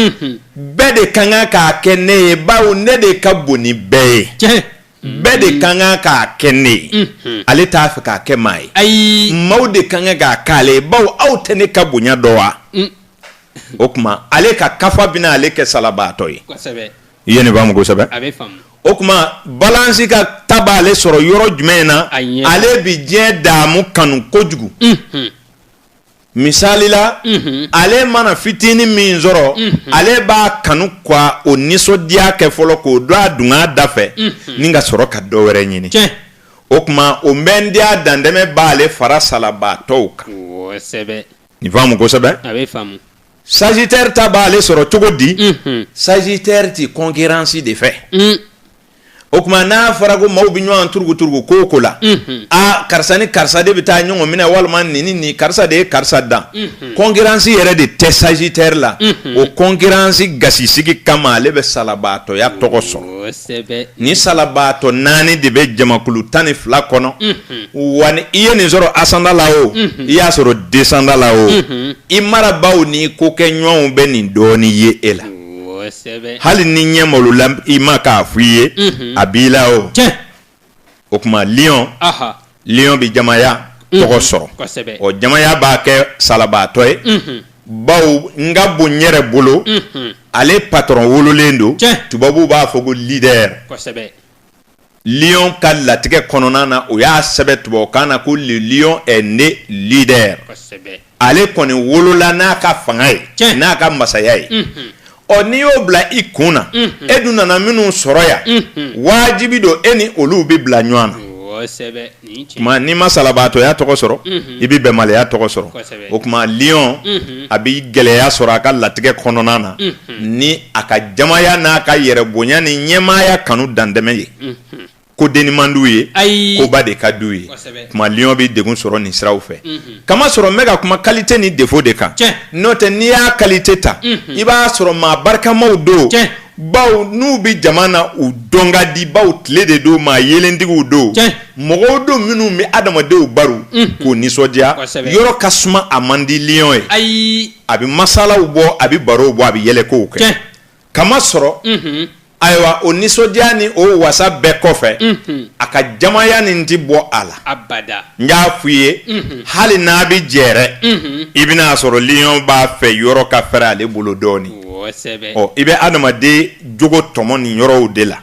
bɛɛ de ka kan k'a kɛ ne ye bawo ne de ka bon ni bɛɛ ye tiɲɛ bɛɛ de ka kan k'a kɛ ne ye ale t'a fɛ k'a kɛ maa ye ayi maaw de ka kan k'a k'ale ye bawo aw tɛ ne ka bonya dɔn wa o tuma ale ka kafa bɛna ale kɛ salabaatɔ ye kosɛbɛ i ye ne faamu kosɛbɛ a bɛ faamu o tuma balansi ka ta b'ale sɔrɔ yɔrɔ jumɛn na A ɲɛ. ale bɛ diɲɛ daamu kanu kojugu misali la ale mana fitinin min sɔrɔ ale b'a kanu ka o nisɔndiya kɛ fɔlɔ k'o don a dunga da fɛ ni ka sɔrɔ ka dɔ wɛrɛ ɲini o tuma o mɛndiya dantɛmɛ b'ale fara salabaatɔw kan nin faamu kosɛbɛ sajitɛri ta b'ale sɔrɔ cogo di sajitɛri tɛ kɔnkiransi de fɛ o tuma n'a fɔra ko maaw bɛ ɲɔgɔn turuguturugu ko ko la aa karisa ni karisa de bɛ taa ɲɔgɔn minɛ walima ni ni karisa de ye karisa dan kɔnkiransi yɛrɛ de tɛ sajitɛri la o kɔnkiransi gasisigi kama ale bɛ salabaatɔya tɔgɔ sɔrɔ ni salabaatɔ naani de bɛ jamakulu tan ni fila kɔnɔ wa ni i ye nin sɔrɔ asandan la o i y'a sɔrɔ desandan la o i marabaaw ni i kokɛɲɔgɔnw bɛ nin dɔɔnin ye e la hali ni ɲɛ malo la i ma k'a f'i ye a b'i la o o tuma lion bɛ jamaya tɔgɔ sɔrɔ o jamaya b'a kɛ salabaatɔ ye bawo n ka bon yɛrɛ bolo ale patɔrɔn wololen don tubabuw b'a fɔ ko leader lion ka latigɛ kɔnɔna na u y'a sɛbɛn tubabukan na ko le lion est né leader kosɛbɛ ale kɔni wolola n'a ka fanga ye tiɲɛ n'a ka masaya ye unhun ɔ n'i y'o bila i kun na unhun e dun nana minnu sɔrɔ yan unhun waajibi don e ni olu bɛ bila ɲɔgɔn na kosɛbɛ n'i ma salabaatɔya tɔgɔ sɔrɔ i bɛ bɛnbaliya tɔgɔ sɔrɔ o kuma lion a bɛ gɛlɛya sɔrɔ a ka latigɛ kɔnɔna na ni a ka jamaya n'a ka yɛrɛ bonya ni ɲɛmaaya kanu dantɛmɛ ye ko dennin man di u ye ayi koba de ka di u ye o kuma lion bɛ degun sɔrɔ nin siraw fɛ k'a masɔrɔ n bɛ ka kuma qualité ni défaut de kan n'o tɛ n'i y'a qualité ta i b'a sɔrɔ maa barikamaw don baw n'u bɛ jama na u dɔn ka di baw tile de don maa yelentigiw don mɔgɔw don minnu bɛ adamadenw baro k'u nisɔndiya yɔrɔ ka suma a man di lion ye ayi a bɛ masalaw bɔ a bɛ barow bɔ a bɛ yɛlɛkow kɛ k'a masɔrɔ ayiwa o nisɔndiya ni o wasa bɛɛ kɔfɛ a ka jamaya nin tɛ bɔ a la n y'a f'i ye hali n'a bɛ jɛrɛ i bɛna a sɔrɔ lion b'a fɛ yɔrɔ ka fɛrɛ ale bolo dɔɔnin i bɛ adamaden jogo tɔmɔ nin yɔrɔw de la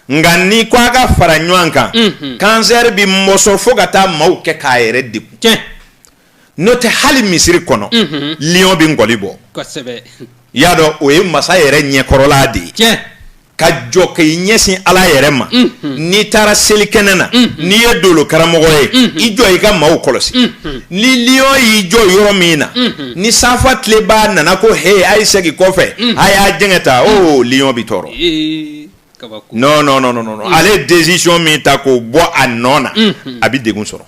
nka ni ko a ka fara ɲɔgɔn kan kansɛri bɛ mɔsɔn fo ka taa maaw kɛ k'a yɛrɛ degun n'o tɛ hali misiri kɔnɔ lion bɛ nkɔli bɔ i y'a dɔn o ye masa yɛrɛ ɲɛkɔrɔla de ye ka jɔ ka i ɲɛsin ala yɛrɛ ma n'i taara seli kɛnɛ na n'i ye dolo karamɔgɔ ye i jɔ i ka maaw kɔlɔsi ni liyɔn y'i jɔ yɔrɔ min na ni safa tilenbaa nana ko he a ye segin kɔfɛ a y'a jɛngɛ tan o liyɔn bi tɔɔrɔ non non non non ale ye décision min ta k'o bɔ a nɔ na a bɛ degun sɔrɔ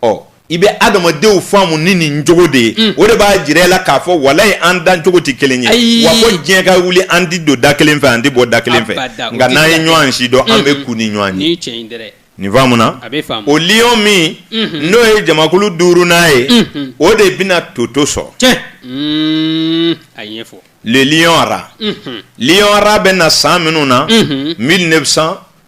ɔ i bɛ adamadenw faamu ni nin jogo de ye mm. o de b'a jira i la k'a fɔ walayi an dan cogo tɛ kelen ye wa fo diɲɛ ka wuli an tɛ don da kelen fɛ an tɛ bɔ da kelen fɛ nka n'an ye ɲɔgɔn si dɔn an bɛ kun ni ɲɔgɔn ye nin faamuna o lion min mm-hmm. n'o ye jamakulu duurunan ye mm-hmm. o de bɛna toto sɔrɔ mm, le lion rat mm-hmm. lion rat bɛ na san minnu na 1900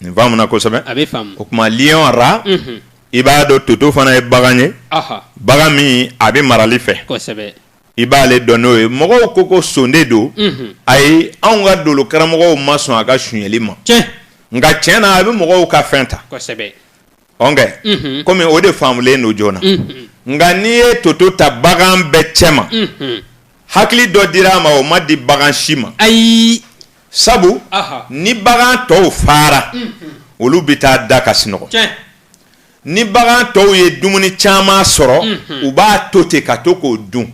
Nin faamuna kosɛbɛ. A bɛ faamu. O kuma lion rat. Unhun. I b'a dɔn toto fana ye bagan ye. Ɔhɔ. Bagan min a bɛ marali fɛ. Kosɛbɛ. I b'ale dɔn n'o ye. Mɔgɔw ko ko son de don. Unhun. Ayi anw ka dolo karamɔgɔw ma sɔn a ka sonyali ma. Tiɲɛ. Nka tiɲɛ na a bɛ mɔgɔw ka fɛn ta. Kosɛbɛ. kɔmi o de faamulen don joona nka n'i ye toto ta bagan bɛɛ cɛ ma hakili dɔ dira a ma o ma di bagan si ma ayi sabu ni bagan tɔw fara olu bɛ taa da ka sinɔgɔ ni bagan tɔw ye dumuni caman sɔrɔ u b'a to ten ka to k'o dun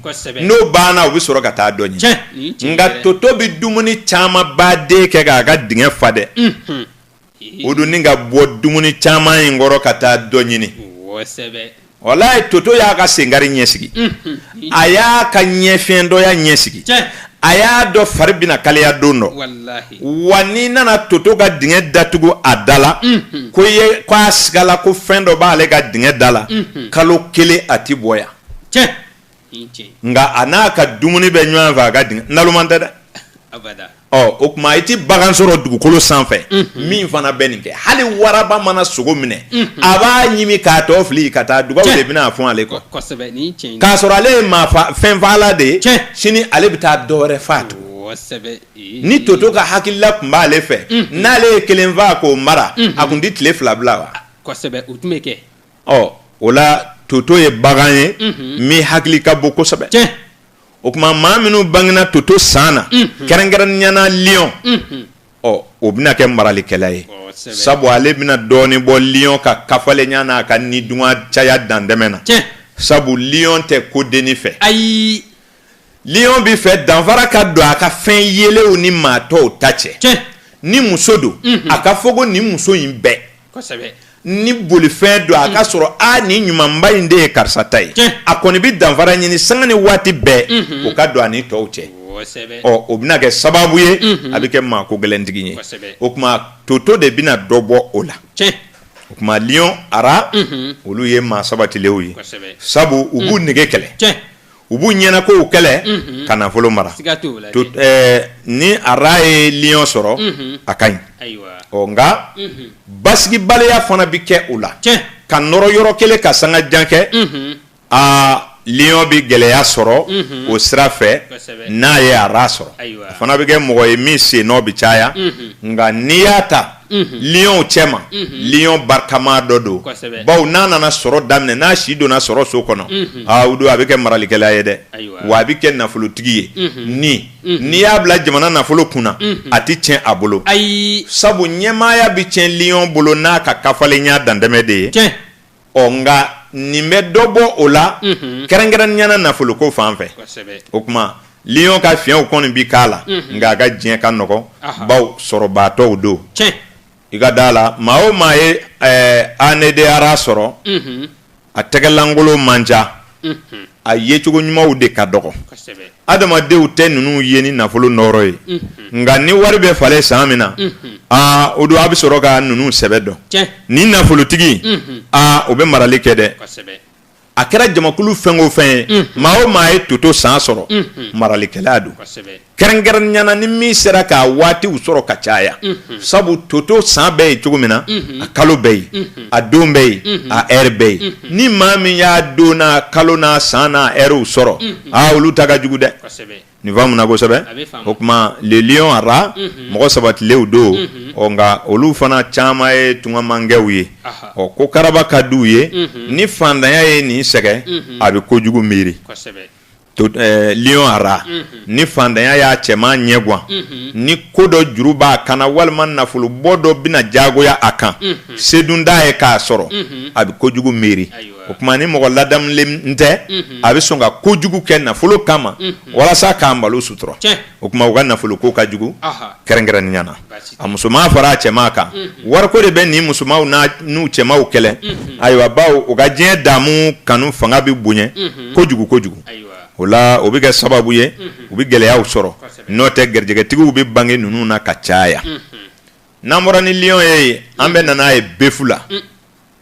n'o banna u bɛ sɔrɔ ka taa dɔ ɲini nka toto bɛ dumuni camanba de kɛ k'a ka dingɛ fa dɛ o don nin ka bɔ dumuni caman in kɔrɔ ka taa dɔ ɲini walayi toto y'a ka senkari ɲɛsigi a y'a ka ɲɛ fiyentɔya ɲɛsigi a y'a dɔn fari bɛna kaliya don dɔ wa n'i nana toto ka dingɛ datugu a da la ko ye ko a sigala ko fɛn dɔ b'ale ka dingɛ da la kalo kelen a tɛ bɔ yan nka a n'a ka dumuni bɛ ɲɔgɔn fɛ a ka dingɛ naloma tɛ dɛ o tuma i tɛ bagan sɔrɔ dugukolo sanfɛ min fana bɛ nin kɛ hali waraba mana sogo minɛ a b'a ɲimi k'a tɔ fili ka taa dugaw de bɛna fɔ ale kɔ k'a sɔrɔ ale ye maa fɛn faala de ye sini ale bɛ taa dɔ wɛrɛ faa tugun ni toto ka hakilila tun b'ale fɛ n'ale ye kelen faa k'o mara a tun tɛ tile fila bila wa ɔ o la toto ye bagan ye min hakili ka bon kosɛbɛ o tuma maa minnu bangena toto san na kɛrɛnkɛrɛnnenya na liyɔn ɔ o bɛna kɛ maralikɛla ye sabu ale bɛna dɔɔnin bɔ liyɔn ka kafalenya n'a ka nidungɔ caya dantɛmɛ na sabu liyɔn tɛ kodenni fɛ ayi liyɔn b'a fɛ danfara ka don a ka fɛn yelenw ni maa tɔw ta cɛ ni muso don a ka fɔ ko nin muso in bɛɛ ni bolifɛn don a ka sɔrɔ a nin ɲumanba in de ye karisa ta ye a kɔni bɛ danfara ɲini sanga ni waati bɛɛ o ka don a ni tɔw cɛ ɔ o bɛna kɛ sababu ye a bɛ kɛ maa ko gɛlɛntigi ye o tuma toto de bɛna dɔ bɔ o la o tuma liyɔn ara olu ye maa sabatilenw ye sabu u b'u nege kɛlɛ u b'u ɲɛnakow kɛlɛ ka nafolo mara ni ara ye liyɔn sɔrɔ a ka ɲi ɔ nka basigibaliya fana bɛ kɛ u la ka nɔrɔ yɔrɔ kelen ka sanga jan kɛ aa liyɔn bɛ gɛlɛya sɔrɔ o sira fɛ n'a ye ara sɔrɔ a fana bɛ kɛ mɔgɔ ye min sennɔ bɛ caya nka n'i y'a ta liɔnw cɛma liɔn barikama dɔ don bawo n'a nana sɔrɔ daminɛ n'a si donna sɔrɔ so kɔnɔ o don a bɛ kɛ maralikɛla ye dɛ wa a bɛ kɛ nafolotigi ye ni n'i y'a bila jamana nafolo kunna a tɛ tiɲɛ a bolo ayi sabu ɲɛmaaya bɛ cɛn liɔn bolo n'a ka kafalenya dantɛmɛ de ye ɔ nka nin bɛ dɔ bɔ o la mhm. kɛrɛnkɛrɛnnenya na nafoloko fan fɛ o tuma liyɔn ka fiɲɛw kɔni bi k'a la mhm. nka a ka diɲɛ ka nɔgɔn bawo sɔrɔbaatɔw don i ka da la maa o maa ye année de rat sɔrɔ a tɛgɛlankolon man ca a yecogo ɲumanw de ka dɔgɔ adamadenw tɛ ninnu ye ni nafolo nɔɔrɔ ye nka ni wari bɛ falen san min na aa o don a bɛ sɔrɔ ka ninnu sɛbɛ dɔn ni nafolotigi aa o bɛ marali kɛ dɛ a kɛra jamakulu fɛn o fɛn ye maa o maa ye toto san sɔrɔ maralikɛla don kɛrɛnkɛrɛnnenya na ni min sera k'a waatiw sɔrɔ ka caya mhm. sabu toto san bɛɛ ye cogo min na mhm. a kalo bɛɛ ye mhm. a don bɛɛ ye a ɛri bɛɛ ye ni maa min y'a don n'a kalo n'a san n'a ɛriw sɔrɔ aa olu ta ka jugu dɛ nin faamuna kosɛbɛ o tuma le lion ara mɔgɔ sabatilenw don ɔ nka olu fana caman ye tungamangɛw ye ɔ ko karaba ka di u ye ni fantanya ye nin sɛgɛn a bɛ kojugu miiri ra ni fantanya y'a cɛman ɲɛgwan ni ko dɔ juru b'a kan na walima nafolo bɔ dɔ bɛna jagoya a kan se dun t'a ye k'a sɔrɔ a bɛ kojugu miiri o tuma ni mɔgɔ ladamulen tɛ a bɛ sɔn ka kojugu kɛ nafolo kama walasa k'a malo sutura o tuma u ka nafolo ko ka jugu kɛrɛnkɛrɛnnenya na a musoman fara a cɛman kan wariko de bɛ nin musomanw n'u cɛmanw kɛlɛ ayiwa bawo u ka diɲɛ daamu kanu fanga bɛ bonya kojugu kojugu o la o bɛ kɛ sababu ye u bɛ gɛlɛyaw sɔrɔ n'o tɛ garijɛgɛtigiw bɛ bange ninnu na ka caya n'an bɔra ni lion ye an bɛna na a ye befu la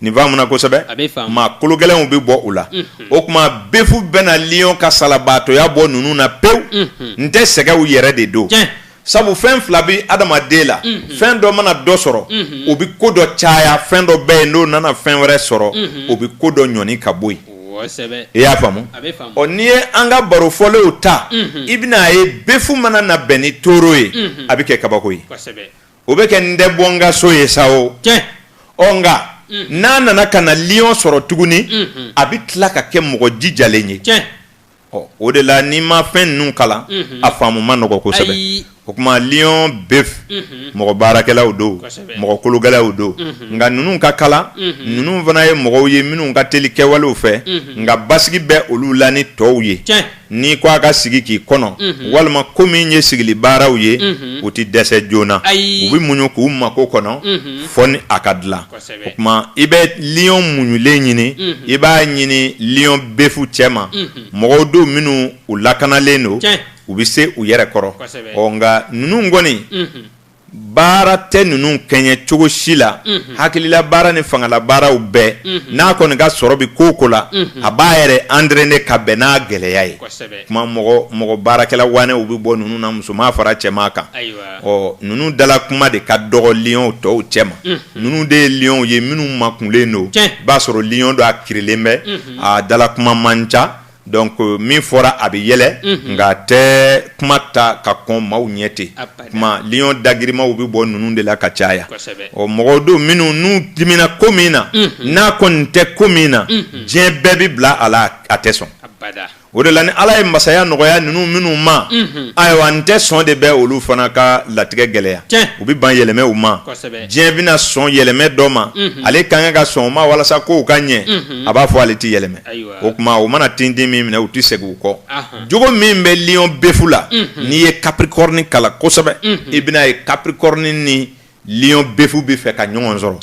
nin faamuna kosɛbɛ, a bɛ faamu, maa kologɛlɛnw bɛ bɔ u la, unhun, o tuma befu bɛna lion ka salabaatɔya bɔ ninnu na pewu, unhun, n tɛ sɛgɛnw yɛrɛ de don, tiɲɛ, sabu fɛn fila bɛ adamaden la, unhun, fɛn dɔ mana dɔ sɔrɔ, unhun, o bɛ ko dɔ caya, fɛn dɔ bɛ yen n'o nana fɛn wɛrɛ sɔrɔ, unhun, o bɛ ko dɔ ɲɔni ka bɔ yen, kosɛbɛ, i y'a faamu, a bɛ faamu, ɔ n'i ye an ka baro fɔlenw ta, unhun, i bɛna a ye befu mana na bɛn ni toro ye, unhun, a bɛ kɛ kabako ye, kosɛbɛ. o bɛ kɛ n tɛ bɔ n ka so ye sa o ɔ nka n'a nana ka na liyɔn sɔrɔ tuguni a bɛ tila ka kɛ mɔgɔ jijalen ye ɔ o de la n'i ma fɛn ninnu kalan a faamu man nɔgɔ kosɛbɛ o tuma liyɔn befu mɔgɔ baarakɛlaw don mɔgɔ kologɛlɛnw don nka ninnu ka kalan ninnu fana ye mɔgɔw ye minnu ka teli kɛwalew fɛ nka basigi bɛ olu la ni tɔw ye n'i ko a ka sigi k'i kɔnɔ walima ko min ye sigili baaraw ye u tɛ dɛsɛ joona u bɛ muɲu k'u mako kɔnɔ fɔ ni a ka dilan o tuma i bɛ lion muɲulen ɲini i b'a ɲini lion befu cɛ ma mɔgɔw don minnu u lakanalen don u bɛ se u yɛrɛ kɔrɔ nka ninnu kɔni baara tɛ ninnu kɛɲɛ cogo si la hakilila baara ni fangala baaraw bɛɛ n'a kɔni ka sɔrɔ bɛ ko o ko la a b'a yɛrɛ entraîner ka bɛn n'a gɛlɛya ye tuma mɔgɔ baarakɛla waanɛw bɛ bɔ ninnu na musoman fara cɛman kan ɔ ninnu dala kuma de ka dɔgɔ lion tɔw cɛ ma ninnu de ye lionw ye minnu makunlen don b'a sɔrɔ lion dɔ a kirilen bɛ a dala kuma man ca Donc min fɔra a bɛ yɛlɛ nka a tɛ kuma ta ka kɔn maaw ɲɛ ten kuma lion dagirimaw bɛ bɔ ninnu de la ka caya ɔ mɔgɔw don minnu n'u dimina ko min na n'a kɔni tɛ ko min na diɲɛ bɛɛ bɛ bila a la a tɛ sɔn o de la ni ala ye masaya nɔgɔya ninnu minnu ma ayiwa n tɛ sɔn de bɛ olu fana ka latigɛ gɛlɛya u bɛ ban yɛlɛmɛw ma diɲɛ bɛna sɔn yɛlɛmɛ dɔ ma ale kan ka sɔn o ma walasa kow ka ɲɛ a b'a fɔ ale tɛ yɛlɛmɛ o tuma u mana tintin min minɛ u tɛ segin u kɔ jogo min bɛ lion bɛfu la n'i ye capricorne kalan kosɛbɛ i bɛna ye capricorne ni lion bɛfu bɛ fɛ ka ɲɔgɔn sɔrɔ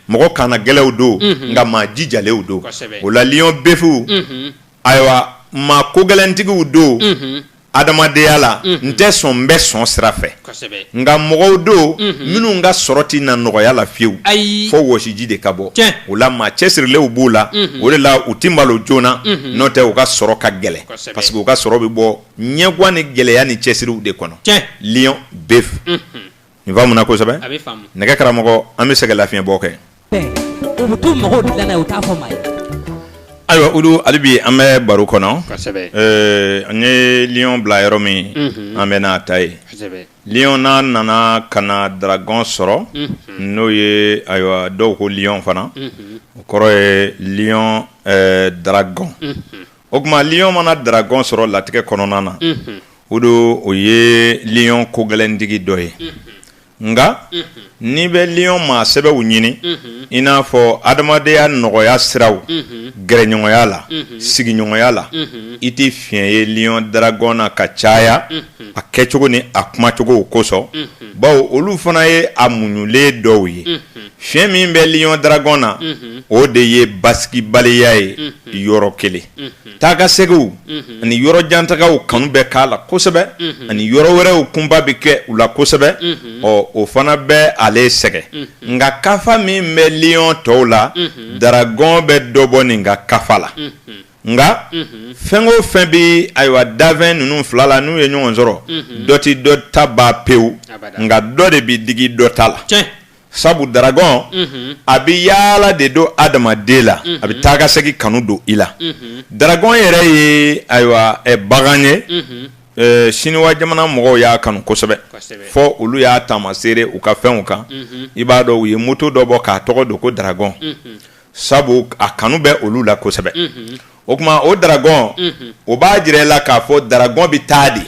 mɔgɔ kannagɛlɛnw don nka maa jijalenw don o la lion bɛfu ayiwa maa kogɛlɛntigiw don adamadenya la n tɛ sɔn n bɛ sɔn sira fɛ nka mɔgɔw don minnu ka sɔrɔ tɛ na nɔgɔya la fiyewu fo wɔsiji de ka bɔ o la maa cɛsirilenw b'u la o de la u tɛ malo joona n'o tɛ u ka sɔrɔ ka gɛlɛn parce que u ka sɔrɔ bɛ bɔ ɲɛgwan ni gɛlɛya ni cɛsiriw de kɔnɔ lion bɛfu Nin faamuna kosɛbɛ nɛgɛ karamɔgɔ an bɛ sɛgɛn lafiɲɛ bɔ kɛ ayiwa olu hali bi an bɛ baro kɔnɔ an ye lion bila yɔrɔ min an bɛn'a ta yen lion n'a nana ka na dragon sɔrɔ n'o ye ayiwa dɔw ko lion fana o kɔrɔ ye lion dragon o tuma lion mana dragon sɔrɔ latigɛ kɔnɔna na o don o ye lion kogɛlɛntigi dɔ ye nka n'i bɛ lion maa sɛbɛw ɲini i n'a fɔ adamadenya nɔgɔya siraw gɛrɛɲɔgɔnya la sigiɲɔgɔnya la i tɛ fiɲɛ ye lion dragon na ka caya a kɛcogo ni a kumacogow kosɔn bawo olu fana ye a muɲulen dɔw ye Fiɲɛ min bɛ lion dragon na o de ye basigibaliya ye yɔrɔ kelen taa ka seginw ani yɔrɔ jantagaw kanu bɛ k'a la kosɛbɛ ani yɔrɔ wɛrɛw kunba bɛ kɛ u la kosɛbɛ ɔ o fana bɛ ale sɛgɛn nka kafa min bɛ lion tɔw la dragon bɛ dɔ bɔ nin ka kafa la nka fɛn o fɛn bɛ ayiwa dafɛn ninnu fila la n'u ye ɲɔgɔn sɔrɔ dɔ ti dɔ ta ban pewu nka dɔ de bɛ digi dɔ ta la sabu dragon a bɛ yaala de don adamaden la a bɛ taa ka segin kanu don i la dragon yɛrɛ ye ayiwa bagan ye siniwa jamana mɔgɔw y'a kanu kosɛbɛ fo olu y'a taamasere u ka fɛnw kan i b'a dɔn u ye moto dɔ bɔ k'a tɔgɔ don ko dragon sabu a kanu bɛ olu la kosɛbɛ o tuma o dragon o b'a jira i la k'a fɔ dragon bɛ taa de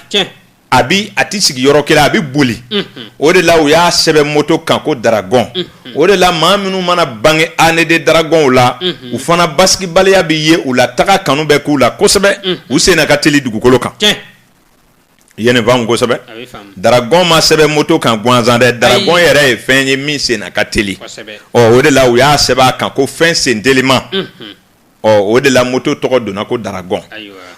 a bi a tɛ sigi yɔrɔ kelen a bɛ boli o de la u y'a sɛbɛn moto kan ko daragɔn o de la maa minnu mana bange année de daragɔnw la u fana basigibaliya bɛ ye u la taga kanu bɛ k'u la kosɛbɛ u senna ka teli dugukolo kan ye ne faamu kosɛbɛ daragɔn ma sɛbɛn moto kan gansan dɛ daragɔn yɛrɛ ye fɛn ye min senna ka teli o de la u y'a sɛbɛn a kan ko fɛn sen telima ɔ o de la moto tɔgɔ donna ko daragɔn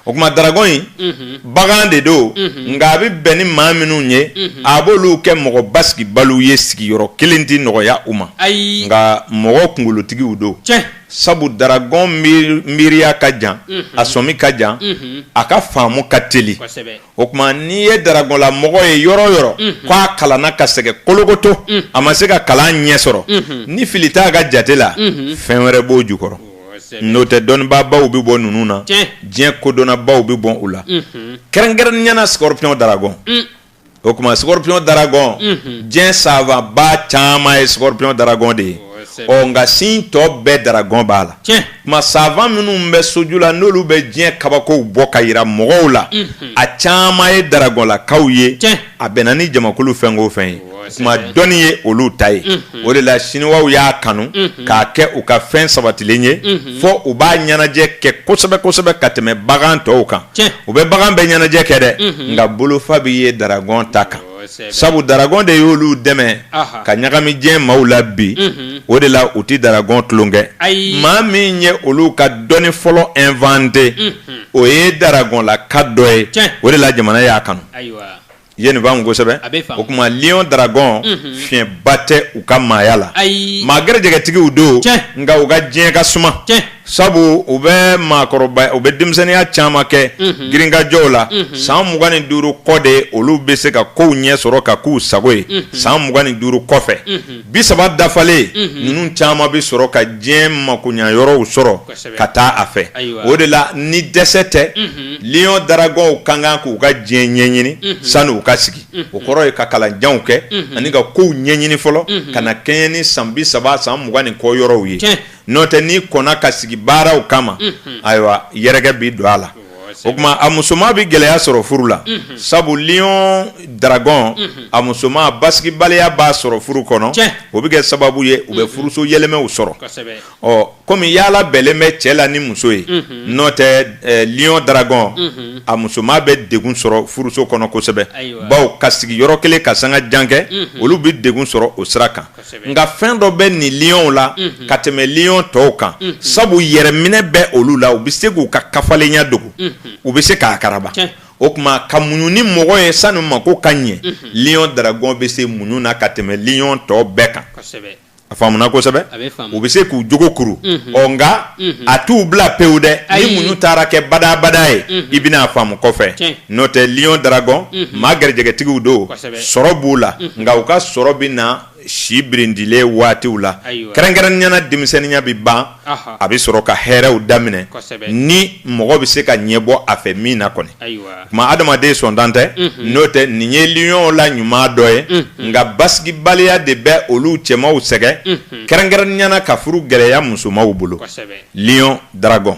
o kuma daragɔn in mhm. bagan de don mhm. nka a bɛ bɛn ni maa minnu ye mhm. a b'olu kɛ mɔgɔ basigibaliw ye sigiyɔrɔ kelen tɛ nɔgɔya u ma nka mɔgɔ kunkolotigiw don sabu daragɔn miiriya ka jan a sɔmi ka jan a ka faamu ka teli o kuma n'i ye daragɔnlamɔgɔ ye yɔrɔ o yɔrɔ k'a kalanna ka sɛgɛn kolokoto a ma se ka kalan ɲɛ sɔrɔ ni fili t'a ka jate la fɛn wɛrɛ b'o jukɔrɔ n'o tɛ dɔnnibaabaw bɛ bɔ ninnu na diɲɛ kodɔnnabaw bɛ bɔ u la kɛrɛnkɛrɛnya na scorpion daragɔn o kuma scorpion daragɔn diɲɛ savantba caman ye scorpion daragɔn de ye ɔ nka sin tɔ bɛɛ daragɔn b'a la kuma savant minnu bɛ soju la n'olu bɛ diɲɛ kabakow bɔ ka yira mɔgɔw la a caman ye daragɔnlakaw ye a bɛnna ni jamakulu fɛn o fɛn ye kuma dɔnni ye olu ta ye o de la siniwaw y'a kanu k'a kɛ u ka fɛn sabatilen ye fɔ u b'a ɲɛnajɛ kɛ kosɛbɛ kosɛbɛ ka tɛmɛ bagan tɔw kan u bɛ bagan bɛɛ ɲɛnajɛ kɛ dɛ nka bolofa bɛ ye daragɔn ta kan sabu daragɔn de y'olu dɛmɛ ka ɲagami diɲɛ maaw la bi o de la u tɛ daragɔn tulonkɛ maa min ye olu ka dɔnni fɔlɔ inventé o ye daragɔnlaka dɔ ye o de la jamana y'a kanu ye ne faamu kosɛbɛ o kuma lion daragɔn fiɲɛba tɛ u ka maaya la maa garijɛgɛtigiw don nka u ka diɲɛ ka suma Sabu u bɛ maakɔrɔba u bɛ denmisɛnninya caman kɛ girinkajɔw la san mugan ni duuru kɔ de olu bɛ se ka kow ɲɛ sɔrɔ ka k'u sago ye san mugan ni duuru kɔfɛ bi saba dafalen ninnu caman bɛ sɔrɔ ka diɲɛ makoɲa yɔrɔw sɔrɔ ka taa a fɛ o de la ni dɛsɛ tɛ lion daragɔnw ka kan k'u ka diɲɛ ɲɛɲini sani u ka sigi o kɔrɔ ye ka kalanjanw kɛ ani ka kow ɲɛɲini fɔlɔ ka na kɛɲɛ ni san bi saba san mugan ni kɔ yɔrɔw ye N'o tɛ n'i kɔnna ka sigi baaraw kama, unhun, ayiwa yɛrɛkɛ bɛ don a la, o ye tiɲɛ ye, o kuma a musoman bɛ gɛlɛya sɔrɔ furu la, unhun, sabu lion dragon unhun, a musoman basigibaliya b'a sɔrɔ furu kɔnɔ, tiɲɛ, o bɛ kɛ sababu ye u bɛ furuso yɛlɛmɛw sɔrɔ, kosɛbɛ, ɔ komi yaala bɛnlen bɛ cɛ la ni muso ye, unhun, n'o tɛ lion dragon unhun, a musoman bɛ degun sɔrɔ furuso kɔnɔ kosɛbɛ, ayiwa, bawo ka sigi yɔrɔ kelen ka sanga jan kɛ, unhun, olu bɛ degun sɔrɔ o sira kan. nka fɛn dɔ bɛ nin liyɔnw la mhm. ka tɛmɛ liyɔn tɔw kan mhm. sabu yɛrɛminɛ bɛ olu la u bɛ se k'u ka kafalenya dogo mhm. u bɛ se k'a karaba o kuma ka muɲu ni mɔgɔ ye sanni mako ka ɲɛ liyɔn daragɔn bɛ se muɲu na ka tɛmɛ liyɔn tɔw bɛɛ kan a faamuna kosɛbɛ u bɛ se k'u jogo kuru ɔ nka a t'u bila pewu dɛ ni muɲu taara kɛ badabada ye i bɛna a faamu kɔfɛ n'o tɛ liyɔn daragɔn maa garijɛgɛtigiw don sɔrɔ b'u la nka u ka sɔrɔ bɛ na si birindilen waatiw la kɛrɛnkɛrɛnnenya na denmisɛnninya bɛ ban a bɛ sɔrɔ ka hɛrɛɛw daminɛ ni mɔgɔ bɛ se ka ɲɛ bɔ a fɛ min na kɔni kuma adamaden sɔntan tɛ n'o tɛ nin ye liɔn la ɲuman dɔ ye nka basigibaliya de bɛ olu cɛmanw sɛgɛn kɛrɛnkɛrɛnnenya na ka furu gɛlɛya musomanw bolo liɔn daragɔn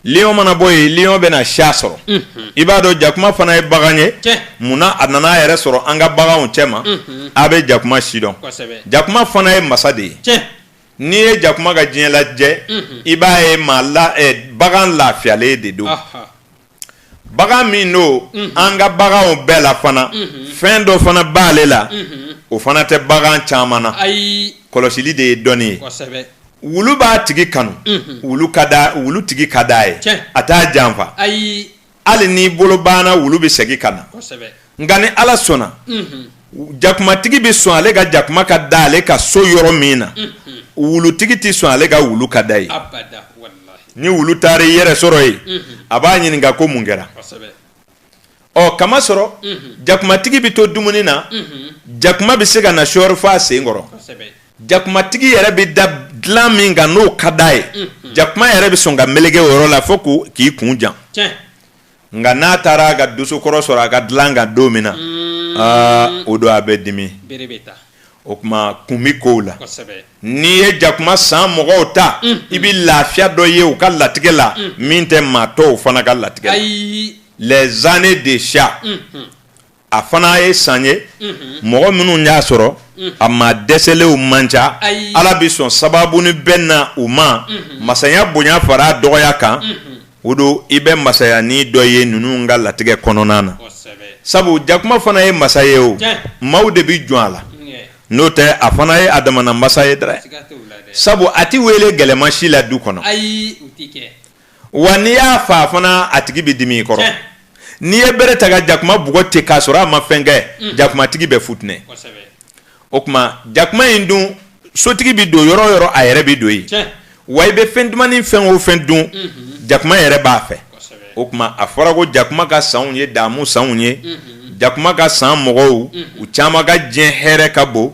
Lion mana bɔ yen Lion bɛna chat sɔrɔ, unhun, i b'a dɔn jakuma fana ye bagan ye, tiɲɛ, munna a nana a yɛrɛ sɔrɔ an ka baganw cɛma, unhun, a bɛ jakuma si dɔn, kosɛbɛ, jakuma fana ye masa de ye, tiɲɛ, n'i ye jakuma ka diɲɛ lajɛ, unhun, i b'a ye maa la ɛ bagan lafiyalen de don, ɔhɔ. Bagan min don an ka baganw bɛɛ la fana fɛn dɔ fana b'ale la o fana tɛ bagan caman na ayi kɔlɔsili de ye dɔnni ye wulu b'a tigi kanu wulu tigi ka d'a ye a t'a janfa ayi hali n'i bolo banna wulu bɛ segin ka na nka ni ala sɔnna jakumatigi bɛ sɔn ale ka jakuma ka da ale ka so yɔrɔ min na wulutigi tɛ sɔn ale ka wulu ka da yen ni wulu taara i yɛrɛ sɔrɔ yen a b'a ɲininka ko mun kɛra ɔ k'a masɔrɔ jakumatigi bɛ to dumuni na jakuma bɛ se ka na sɔɔri fo a sen kɔrɔ jakumatigi yɛrɛ bɛ da dilan min kan n'o ka d'a ye jakuma yɛrɛ bɛ sɔn ka melege o yɔrɔ la fo k'i kun jan nka n'a taara a ka dosokɔrɔ sɔrɔ a ka dilan kan don min na mm. aa o don a bɛ dimi o kuma kun bɛ kow la n'i ye jakuma san mɔgɔw ta mm. i bɛ lafiya dɔ ye u ka latigɛ la mm. min tɛ maa tɔw fana ka latigɛ la les années de chat a fana ye san ye mɔgɔ minnu y'a sɔrɔ a maa dɛsɛlenw man ca ala bɛ sɔn sababunin bɛ na u ma masaya bonya fara dɔgɔya kan o dun i bɛ masayanin dɔ ye ninnu ka latigɛ kɔnɔna na sabu jakuma fana ye masa ye o maaw de bɛ jɔn a la n'o tɛ a fana ye a damana masa ye dɛ sabu a tɛ wele gɛlɛma si la du kɔnɔ wa n'i y'a fa fana a tigi bɛ dimi i kɔrɔ n'i ye bere ta ka jakuma bugɔ ten k'a sɔrɔ a ma fɛn kɛ mm. jakumatigi bɛ futinɛ o kuma jakuma in dun sotigi bɛ don yɔrɔ o yɔrɔ a yɛrɛ bɛ don yen wa i bɛ fɛn dumannin fɛn o fɛn dun mm-hmm. jakuma yɛrɛ b'a fɛ o kuma a fɔra ko jakuma ka sanw ye damu sanw ye mm-hmm. jakuma ka san mɔgɔw mm-hmm. u caman ka diɲɛ hɛrɛ ka bon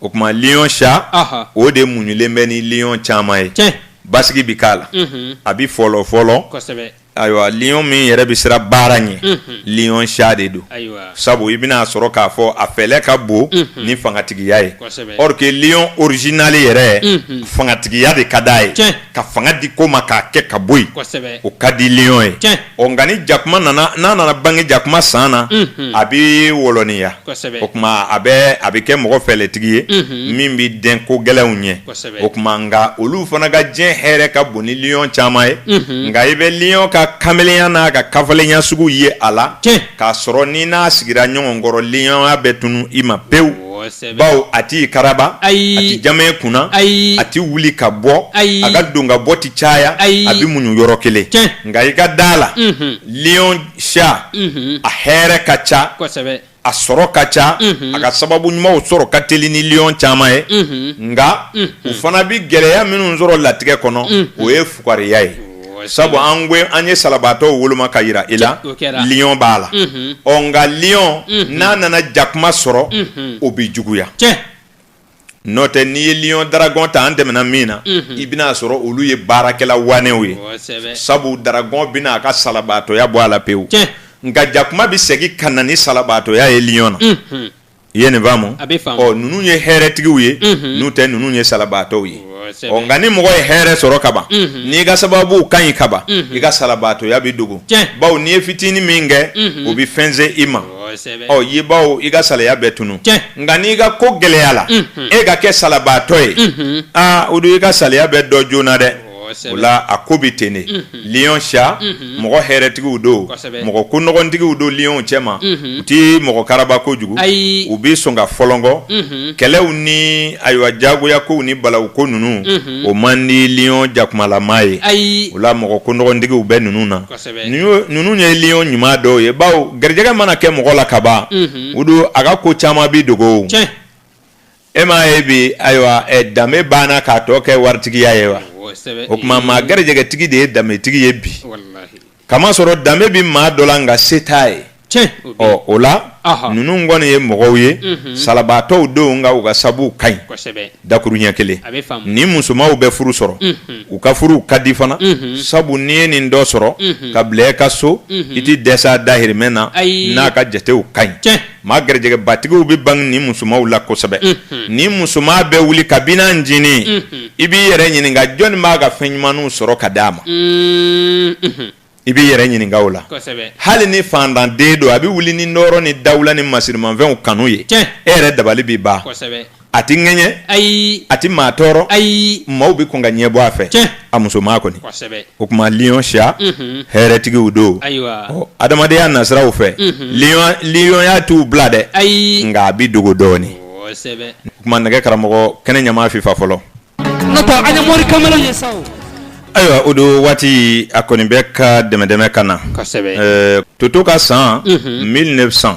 o tuma lion chat o de muɲulen bɛ ni liɔn caman ye basigi bɛ k'a la a bɛ fɔlɔ fɔlɔ ayiwa liɔn min yɛrɛ bɛ siran baara ɲɛ liɔn chat de don sabu i bɛna a sɔrɔ k'a fɔ a fɛlɛ ka bon ni fangatigiya ye or que liɔn original yɛrɛ fangatigiya de ka di a ye ka fanga di ko ma k'a kɛ ka bɔ yen o ka di liɔn ye Ɔ nka ni jakuma nana n'a nana bange jakuma san na a bɛ wɔlɔniya o tuma a bɛ a bɛ kɛ mɔgɔ fɛlɛtigi ye min bɛ den ko gɛlɛnw ɲɛ o tuma nka olu fana ka diɲɛ hɛrɛ ka bon ni liɔn caman ye nka i bɛ liɔn ka kamelenya n'a ka kafalenya sugu ye a la k'a sɔrɔ ni n'a sigira ɲɔgɔn kɔrɔ liɔnya bɛ tunun i ma pewu bawo a tɛ karaba a tɛ jama kunna ayi a tɛ wuli ka bɔ ayi a ka don ka bɔ tɛ caya ayi a bɛ muɲu yɔrɔ kelen nka i ka da a la liɔn chat a hɛrɛ ka ca a sɔrɔ ka ca a ka sababu ɲumanw sɔrɔ ka teli ni liɔn caman ye nka u fana bɛ gɛlɛya minnu sɔrɔ latigɛ kɔnɔ o ye fugariya ye sabu an an ye salabaatɔw woloma ka jira i la liɔn b'a la ɔ nka liɔn n'a nana jakuma sɔrɔ o bɛ juguya n'o tɛ n'i ye liɔn dragon ta an tɛmɛna min na i bɛna a sɔrɔ olu ye baarakɛla waanew ye sabu dragon bɛna a ka salabaatɔya bɔ a la pewu nka jakuma bɛ segin ka na ni salabaatɔya ye liɔn na i ye nin faamu a bɛ faamu ɔ ninnu ye hɛrɛtigiw ye mhm. n'o tɛ ninnu ye salabaatɔw ye ɔ nka ni mɔgɔ ye hɛrɛ sɔrɔ kaban mhm. n'i ka sababu ka ɲi kaban mhm. i ka salabaatɔya bɛ dogo bawo n'i ye fitinin min kɛ o bɛ fɛnsɛn i ma ɔ ye bawo i ka salaya bɛ tunun nka n'i ka ko gɛlɛyala e ka kɛ salabaatɔ ye aa o dun i ka salaya bɛ dɔn joona dɛ o la a ko bɛ ten de liɔn chat mɔgɔ hɛrɛtigiw don mɔgɔ ko nɔgɔtigiw don liɔn cɛma u tɛ mɔgɔ karaba kojugu u bɛ sɔn ka fɔlɔkɔ kɛlɛw ni ayiwa diyagoya ko ni balawu ko ninnu o man di liɔn jakumalama ye o la mɔgɔ ko nɔgɔtigiw bɛ ninnu na ninnu ye liɔn ɲuman dɔw ye baw garijɛgɛ mana kɛ mɔgɔ la kaban o dun a ka ko caman bɛ dogo e m'a ye bi ayiwa eh, danbe banna k'a tɔ kɛ waritigiya ye wa o tuma maa garijɛgɛtigi de ye danbetigi ye bi kamasɔrɔ danbe bɛ maa dɔ la nka se t'a ye ɔ o la ninnu kɔni ye mɔgɔw ye mhm. salabaatɔw don nka u ka sabu ka ɲi dakuru ɲɛ kelen nin musomanw bɛ furu sɔrɔ mhm. u ka furuw ka di fana mhm. sabu n'i ye nin dɔ sɔrɔ ka bila e ka so i tɛ dɛsɛ a dahirimɛ na n'a ka jatew ka ɲi Maa garijɛgɛbatigiw bɛ bange nin musomanw la kosɛbɛ nin musoman bɛ wuli kabini a ncinin i b'i yɛrɛ ɲininka jɔnni b'a ka fɛn ɲumanw sɔrɔ ka di a ma i b'i yɛrɛ ɲininka o la hali ni fantanden don a bɛ wuli ni nɔɔrɔ ni dawula ni masirimanfɛnw kanu ye e yɛrɛ dabali bɛ ban a tɛ ŋɛɲɛ ayi a tɛ maa tɔɔrɔ ayi maaw bɛ kɔn ka ɲɛ bɔ a fɛ tiɲɛ a musoman kɔni kosɛbɛ o tuma lion siya mhm. hɛrɛtigiw don ayiwa ɔ adamadenya nasiraw fɛ mhm. lionya t'u bila dɛ ayi nka a bɛ dogo dɔɔni kosɛbɛ o tuma nɛgɛ karamɔgɔ kɛnɛ ɲama fifa fɔlɔ nɔtɔ an ye mori kamalen ye sa ayiwa o don waati a kɔni bɛ ka dɛmɛdɛmɛ ka na kosɛbɛ toto ka san 1900 mhm.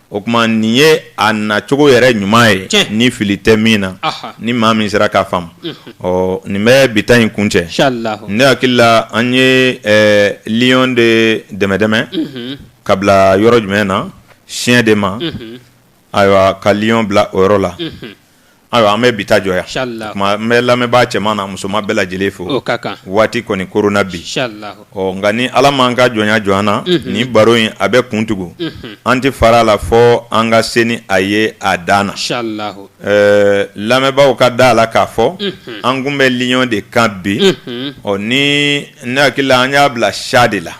O tuma nin ye a nacogo yɛrɛ ɲuman ye tiɲɛ ni fili tɛ min na Aha. ni maa min sera k'a faamu ɔ nin bɛ bi ta in kuncɛ Inch'Allah. ne hakili la an ye ɛɛ lion de dɛmɛdɛmɛ ka bila yɔrɔ jumɛn na siya de ma ayiwa ka lion bila o yɔrɔ la Ayiwa an bɛ bi ta jɔ yan n bɛ lamɛnbaa cɛman n'a musoman bɛɛ lajɛlen fo waati kɔni koronna bi ɔ nka ni ala ma an ka jɔnya jɔ an na nin baro in a bɛ kuntugun an tɛ fara a la fo an ka se ni a ye a dan na ɛɛ lamɛnbaaw ka da a la k'a fɔ an tun bɛ lion de kan bi ɔ ni ne hakili la an y'a bila siya de la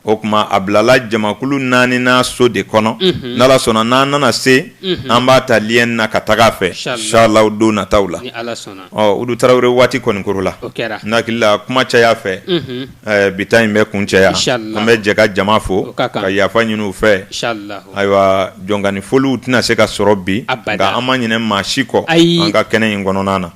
o tuma a bilala jamakulu naaninan so de kɔnɔ n'ala sɔnna n'an nana se an b'a ta lion na ka taga a fɛ Inch'Allah don nataw la Udu Tarawele waati kɔni korola n hakili la kuma caya fɛ bi ta in bɛ kuncɛ yan an bɛ jɛ ka jama fo ka yafa ɲini u fɛ Ayiwa jɔnkaani foliw tɛna se ka sɔrɔ bi nka an ma ɲinɛ maa si kɔ an ka kɛnɛ in kɔnɔna na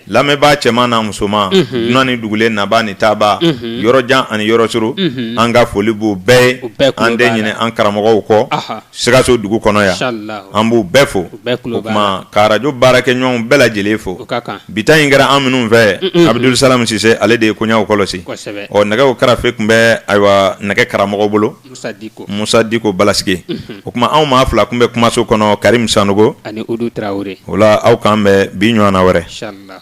lamɛnbaa cɛman n'a musoman dunan ni dugulen nabaa ni taabaa yɔrɔjan ani yɔrɔsurun an ka foli b'u bɛɛ ye an tɛ ɲinɛ an karamɔgɔw kɔ sikaso dugu kɔnɔ yan an b'u bɛɛ fo o tuma ka rajo baarakɛɲɔgɔnw bɛɛ lajɛlen fo bi ta in kɛra an minnu fɛ Abudusalamu Sise ale de ye koɲaw kɔlɔsi ɔ nɛgɛ karafe tun bɛ ayiwa nɛgɛ karamɔgɔ bolo Musa Diko Balasike, unhun, o tuma anw maa fila tun bɛ kumaso kɔnɔ Karimu Sanoko ani Udu Tarawele, o la aw k'an bɛn bi ɲɔgɔnna wɛrɛ, in sha Allah